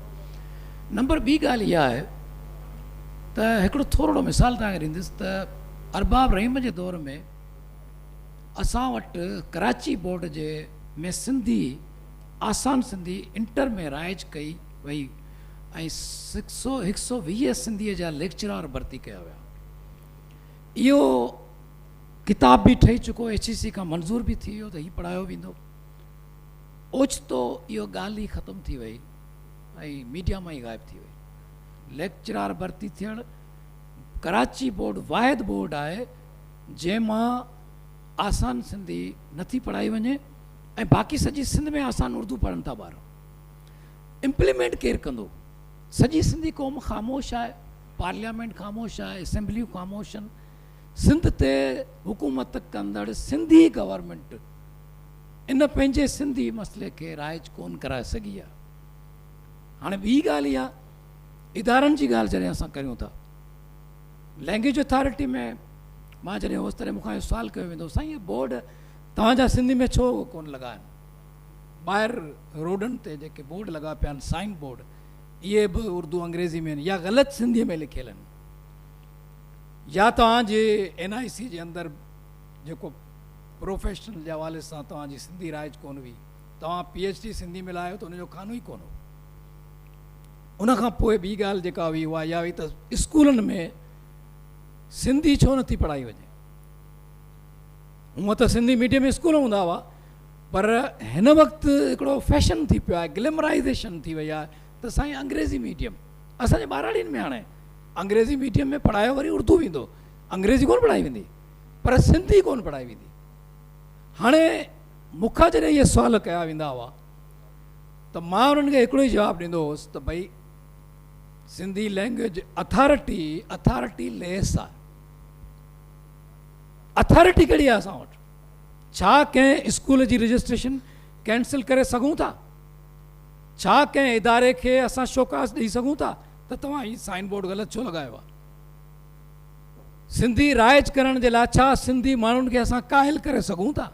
نمبر ٻي ڳالهه اها آهي ته هڪڙو ٿورڙو مثال توهان کي ڏيندس ته ارباب رحيم جي دور ۾ اسان وٽ ڪراچي بورڊ جي ۾ سنڌي آسان سنڌي انٽر ۾ رائج ڪئي وئي ۽ هڪ سو هڪ سو ويهه سنڌي جا ليڪچرار ڀرتي ڪيا ويا اهو ڪتاب به ٺهي چڪو ايڇ اي سي کان منظور به ٿي ويو ته هي پڙهايو ويندو اوچتو اهو ڳالهه ئي ختم ٿي وئي ۽ ميڊيا مان ئي غائب ٿي وئي ليڪچرار ڀرتي ٿيڻ ڪراچي بورڊ واحد بورڊ آهي جنهن مان آسان سنڌي نٿي پڙهائي وڃي ۽ باقي سڄي سنڌ ۾ آسان اردو پڙهن ٿا ٻار امپليمنٽ ڪير ڪندو سڄي سنڌي قوم خاموش آهي پارليامينٽ خاموش آهي اسيمبليون خاموش آهن سنڌ تي حڪومت ڪندڙ سنڌي گورنمينٽ ان پنهنجي سنڌي مسئلي کي رائج ڪون ڪرائي سگهي آ هاڻي ٻي ڳالهه اها ادارن جي ڳالهه جڏهن اسان ڪريون ٿا لينگويج اٿارٽي ۾ مان جڏهن هوس تڏهن مونکان اهو سوال ڪيو ويندو سائين هي بورڊ توهان جا سنڌي ۾ ڇو ڪون لڳا آهن ٻاهر روڊن تي جيڪي بورڊ لڳا پيا آهن سائن بورڊ اهي به اردو انگريزي ۾ يا غلط سنڌي ۾ لکيل آهن يا توهان جي اين آء سي جي اندر جيڪو پروفيشنل جي حوالي سان توهان جي سنڌي رائج ڪونه هئي توهان پي ايڇ ڊي سنڌي ۾ لايو ته ان جو خانو ئي ڪونه هو ان کان پوء ٻي ڳالهه جيڪا هئي اها اها هئي ته اسڪولن ۾ سنڌي ڇو نٿي پڙهائي وڃي هونء ته سنڌي ميڊيم اسڪول هوندا هئا پر هن وقت هڪڙو فيشن ٿي پيو آهي گلمرائزيشن ٿي وئي آهي ته سائين انگريزي ميڊيم اسان جي ٻهراڙين ۾ هاڻي انگريزي ميڊيم ۾ پڙهايو وري اردو ويندو انگريزي ڪونه پڙهائي ويندي پر سنڌي ڪونه پڙهائي ويندي هاڻي مون کان جڏهن اهي سوال ڪيا ويندا هئا ته مان انهن کي هڪڙو ئي جواب ڏيندو هوس ته ڀئي Sindhi language authority authority less آهي اٿارٽي ڪهڙي آهي اسان وٽ ڇا ڪنهن اسڪول جي رجسٽريشن ڪينسل ڪري سگهون ٿا ڇا ڪنهن اداري کي اسان شوڪاز ڏئي سگهون ٿا ته توهان هي سائن بورڊ غلط ڇو لڳايو آهي؟ سنڌي رائج ڪرڻ جي لاء ڇا سنڌي ماڻهن کي اسان قائل ڪري سگهون ٿا؟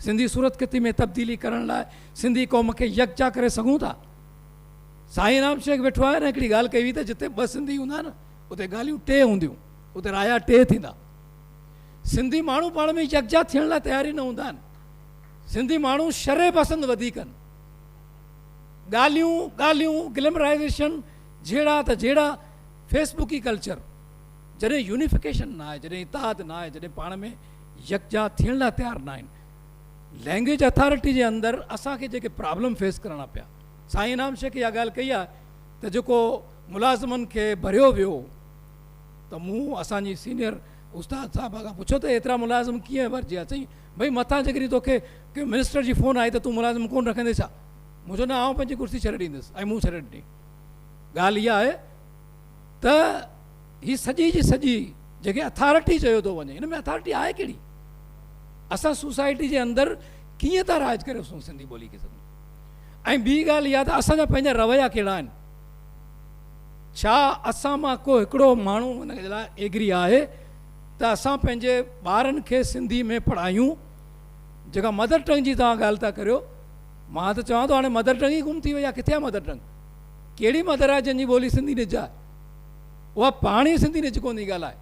سنڌي صورتخطي ۾ تبديلي ڪرڻ لاء سنڌي قوم کي يڪجا ڪري سگهون ٿا؟ سائين انعام شيخ ويٺو آهي نه هڪڙي ڳالهه ڪئي هئي ته جتي ٻه سنڌي هوندا نه اتي ڳالهيون ٽي هونديون اتي رايا ٽي ٿيندا سنڌي ماڻهو پاڻ ۾ يڪجا ٿيڻ لاء تيار ئي نه هوندا آهن سنڌي ماڻهو شرح پسند وڌيڪ آهن ڳالهيون ڳالهيون گلمرائيزيشن جهيڙا ته جهيڙا فيس بڪي ڪلچر جڏهن يونيفڪيشن نه آهي جڏهن اتحاد نه آهي جڏهن پاڻ ۾ يڪجا ٿيڻ لاء تيار نه آهن لينگويج اٿارٽي جي اندر اسان کي جيڪي پرابلم فيس ڪرڻا پيا سائين انعام شيخ اها ڳالهه ڪئي آهي ته جيڪو ملازمن کي ڀريو ويو ته مون اسان جي سينيئر استاد صاحب کان پڇيو ته ايترا ملازم ڪيئن ڀرجيا چئي ڀئي مٿان جيڪڏهن توکي ڪنهن منسٽر جي فون آئي ته تون ملازم ڪونه رکندين ڇا؟ مون چيو نه آئون پنهنجي ڪرسي ڇڏي ڏيندس ۽ مون ڇڏي ڏني. ڳالهه اها آهي ته هي سڄي جي سڄي جنهن کي اٿارٽي چيو ٿو وڃي ان ۾ اٿارٽي آهي ڪهڙي؟ اسان سوسائٽي جي اندر ڪيئن ٿا راج ڪري سون سنڌي ٻولي کي سمجهون ۽ ٻي ڳالهه اها ته اسان جا پنهنجا رويا ڪهڙا آهن؟ ڇا اسان مان ڪو هڪڙو ماڻهو ان جي لاء ايگري آهي ته اسان پنهنجي ٻارن کي سنڌي ۾ پڙهايون، جيڪا مدر ٽنگ جي توهان ڳالهه ٿا ڪريو، مان ته چوان ٿو هاڻي مدر ٽنگ ئي گم ٿي وئي آهي، ڪٿي آهي مدر ٽنگ؟ ڪهڙي مدر آهي جنهن جي ٻولي سنڌي نج آهي؟ اها پاڻ ئي سنڌي نج ڪونه ٿي ڳالهائي.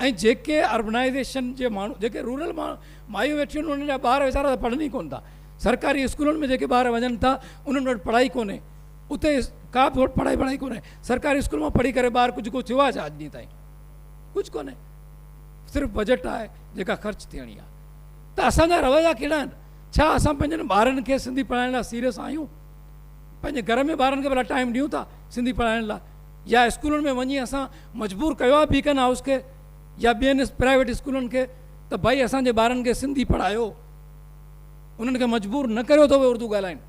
۽ جيڪي اربنائيزيشن جي ماڻهو جيڪي رورل مايون ويٺيون آهن انهن جا ٻار ويچارا ته پڙهن ئي ڪونه ٿا، سرڪاري اسڪولن ۾ جيڪي ٻار وڃن ٿا انهن وٽ پڙهائي ڪونهي، اتي ڪا به پڙهائي وڙهائي ڪونهي، سرڪاري اسڪول مان پڙهي ڪري ٻار ڪجهه ڪو ٿيو آهي ڇا اڄ ڏينهن تائين؟ ڪجهه ڪونهي صرف بجيٽ آهي جيڪا خرچ ٿيڻي آهي ته اسان جا رويا ڪهڙا آهن ڇا اسان پنهنجن ٻارن کي سنڌي پڙهائڻ لاء سيريس آهيون پنهنجي گهر ۾ ٻارن کي ڀلا ٽائيم ڏيون ٿا سنڌي پڙهائڻ لاء يا اسڪولن ۾ وڃي اسان مجبور ڪيو آهي بيڪن هائوس کي يا ٻين پرائيويٽ اسڪولن کي ته ڀائي اسان جي ٻارن کي سنڌي پڙهايو انهن کي مجبور نه ڪريو ته اهي اردو ڳالهائين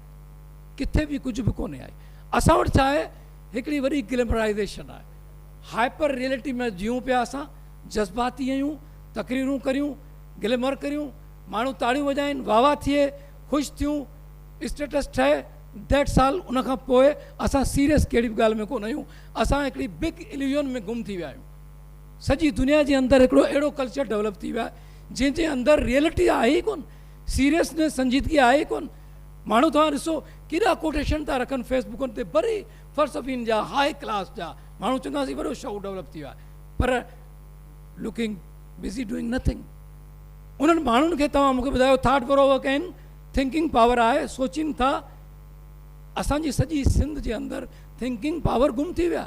ڪٿي به ڪجهه به ڪونهي آئي اسان وٽ ڇا آهي هڪڙي وڏي گلمرائزيشن آهي هائپر ريئلٽي ۾ جيئون پيا اسان، جذباتي هيون، تقريرون ڪريون، گليمر ڪريون، ماڻهو تاڙيون وڄائين، واهه واهه ٿئي، خوش ٿيون، اسٽيٽس ٺهي، ديٽس آل، ان کان پوء اسان سيريس ڪهڙي به ڳالهه ۾ ڪونه آهيون، اسان هڪڙي بگ اليوزن ۾ گم ٿي ويا آهيون. سڄي دنيا جي اندر هڪڙو اهڙو ڪلچر ڊولپ ٿي ويو آهي جنهن جي اندر ريئلٽي آهي ئي ڪونه، سيريسنيس، سنجيدگي آهي ئي ڪونه، ماڻهو توهان ڏسو ڪيڏا ڪوٽيشن ٿا رکن فيس بڪن تي بري فلسفين جا هاء ڪلاس جا ماڻهو چوندا هئاسين وڏو شعور ڊولپ ٿي ويو آهي پر لوڪنگ بزي ڊوئنگ نٿنگ انهن ماڻهن کي توهان مونکي ٻڌايو ٿاٽ پرو ورڪ آهن ٿنڪنگ پاور آهي سوچين ٿا اسان جي سڄي سنڌ جي اندر ٿنڪنگ پاور گم ٿي ويا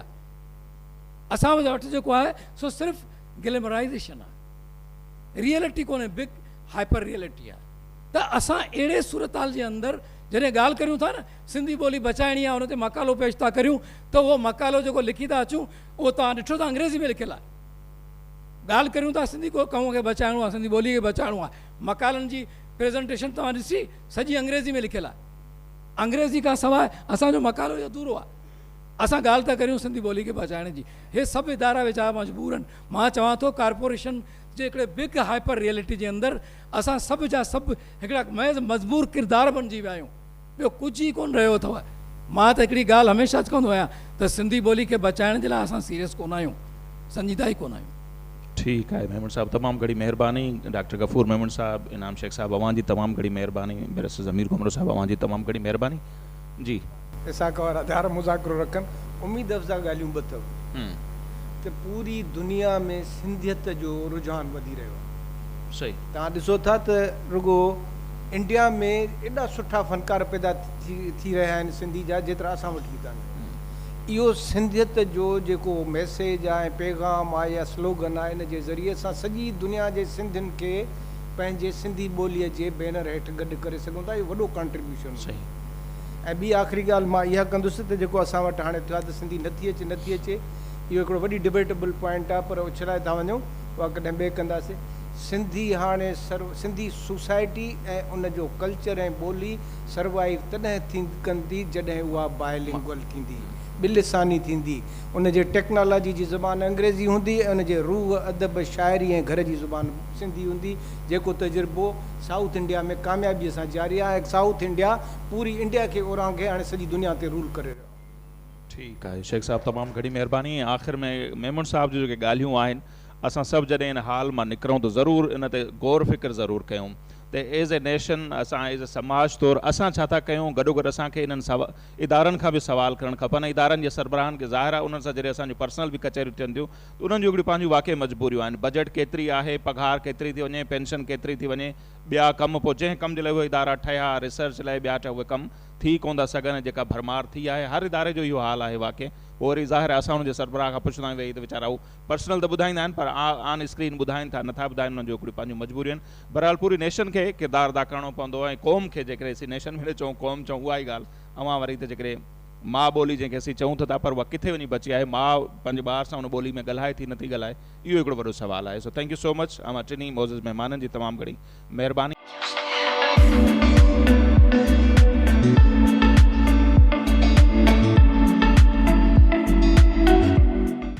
اسان وٽ جيڪو آهي سو صرف گلمرائزيشن آهي ريئلٽي ڪونهي بگ هائپر ريئلٽي آهي ته اسان اهڙي صورتحال جي اندر جڏهن ڳالهه ڪريون ٿا نه سنڌي ٻولي بچائڻي آهي ان تي مقالو پيش ٿا ڪريون ته اهو مقالو جيڪو لکي ٿا اچون اهو توهان ڏٺو ته انگريزي ۾ لکيل آهي ڳالهه ڪريون ٿا سنڌي ڪو قوم کي بچائڻو آهي سنڌي ٻولي کي بچائڻو آهي مقالن جي پريزنٽيشن توهان ڏسي سڄي انگريزي ۾ لکيل آهي انگريزي کان سواء اسان جو مقالو ئي ادھورو آهي اسان ڳالهه ٿا ڪريون سنڌي ٻولي کي بچائڻ جي هي سڀ ادارا ويچارا مجبور آهن مان چوان ٿو ڪارپوريشن جي هڪڙي بگ هائپر ريئلٽي جي اندر اسان سڀ جا سڀ هڪڙا محض مجبور ڪردار بڻجي ويا آهيون ٻيو ڪجهه ئي ڪونه رهيو اٿو. مان ته هڪڙي ڳالهه هميشه چوندو آهيان ته سنڌي ٻولي کي بچائڻ جي لاء اسان سيريس ڪونه آهيون، سنجيده ئي ڪونه آهيون. ٺيڪ آهي ميمڻ صاحب تمام گهڻي مهرباني ڊاڪٽر غفور ميمڻ صاحب انعام شيخ صاحب اوهان جي تمام گهڻي مهرباني بيرسٽر ضمير گهمرو صاحب اوهان جي تمام گهڻي مهرباني جي. ويساک وارا ڌار مذاڪرو رکن اميد افزا ڳالهيون ٻه اٿو ته پوري دنيا ۾ سنڌيت جو رجحان وڌي رهيو آهي صحيح توهان ڏسو ٿا ته رڳو انڊيا ۾ ايڏا سٺا فنڪار پيدا ٿي رهيا آهن سنڌي جا جيترا اسان وٽ به ڪانه اهو سنڌيت جو جيڪو ميسيج آ ۽ پيغام آ يا سلوگن آ ان جي ذريعي سان سڄي دنيا جي سنڌين کي پنهنجي سنڌي ٻولي جي بينر هيٺ گڏ ڪري سگهون ٿا اهو وڏو ڪانٽريبيوشن هوندو ۽ ٻي آخري ڳالهه مان اها ڪندس ته جيڪو اسان وٽ هاڻي ٿيو آ ته سنڌي نٿي اچي نٿي اچي اهو هڪڙو وڏي ڊبيٽبل پوائنٽ آ پر اڇلائي ٿا وڃون اها ڪڏهن ٻئي ڪنداسين سنڌي هاڻي سنڌي سوسائٽي ۽ ان جو ڪلچر ۽ ٻولي سروائيو تڏهن ٿيندي ڪندي جڏهن اها بائي لنگول ٿيندي، ٻه لساني ٿيندي، ان جي ٽيڪنالاجي جي زبان انگريزي هوندي ۽ ان جي روح، ادب، شاعري ۽ گهر جي زبان سنڌي هوندي جيڪو تجربو سائوٿ انڊيا ۾ ڪاميابي سان جاري آهي سائوٿ انڊيا پوري انڊيا کي اورانگهي هاڻي سڄي دنيا تي رول ڪري رهيو آهي. ٺيڪ آهي شيخ صاحب تمام گهڻي مهرباني ۽ آخر ۾ ميمڻ صاحب جون جيڪي ڳالهيون آهن اسان سڀ جڏهن ان حال مان نڪرون ته ضرور ان تي غور فڪر ضرور ڪيون ته ايز اي نيشن اسان ايز اي سماج طور اسان ڇا ٿا ڪيون گڏوگڏ اسان کي انهن ادارن کان به سوال ڪرڻ کپن ۽ ادارن جي سربراهن کي ظاهر آهي انهن سان جڏهن اسان جون پرسنل به ڪچهريون ٿين ٿيون ته انهن جون هڪڙيون پنهنجون واقعي مجبوريون آهن بجيٽ ڪيتري آهي پگهار ڪيتري ٿي وڃي پينشن ڪيتري ٿي وڃي ٻيا ڪم پوء جنهن ڪم جي لاء اهي ادارا ٺهيا ريسرچ لاء ٻيا ٺهيا اهي ڪم ٿي ڪونه ٿا سگهن ۽ جيڪا ڀرمار ٿي آهي هر اداري جو اهو حال آهي واقعي پوء وري ظاهر آهي اسان انهن جي سربراهه کان پڇندا آهيون ته هي ته ويچارا پرسنل ته ٻڌائيندا آهن پر آن اسڪرين ٻڌائين ٿا نٿا ٻڌائين انهن جون هڪڙيون پنهنجون مجبوريون آهن بهرحال پوري نيشن کي ڪردار ادا ڪرڻو پوندو ۽ قوم کي جيڪڏهن اسين نيشن به نه چئون قوم چئون اها ئي ڳالهه اوهان وري ته جيڪڏهن ماء ٻولي جنهن کي اسين چئون ته ٿا پر اها ڪٿي وڃي بچي آهي ماء پنهنجي ٻار سان ان ٻولي ۾ ڳالهائي ٿي نٿي ڳالهائي اهو هڪڙو وڏو سوال آهي سو ٿينڪ يو سو مچ اوهان ٽنهي معزز مهمانن جي تمام گهڻي مهرباني.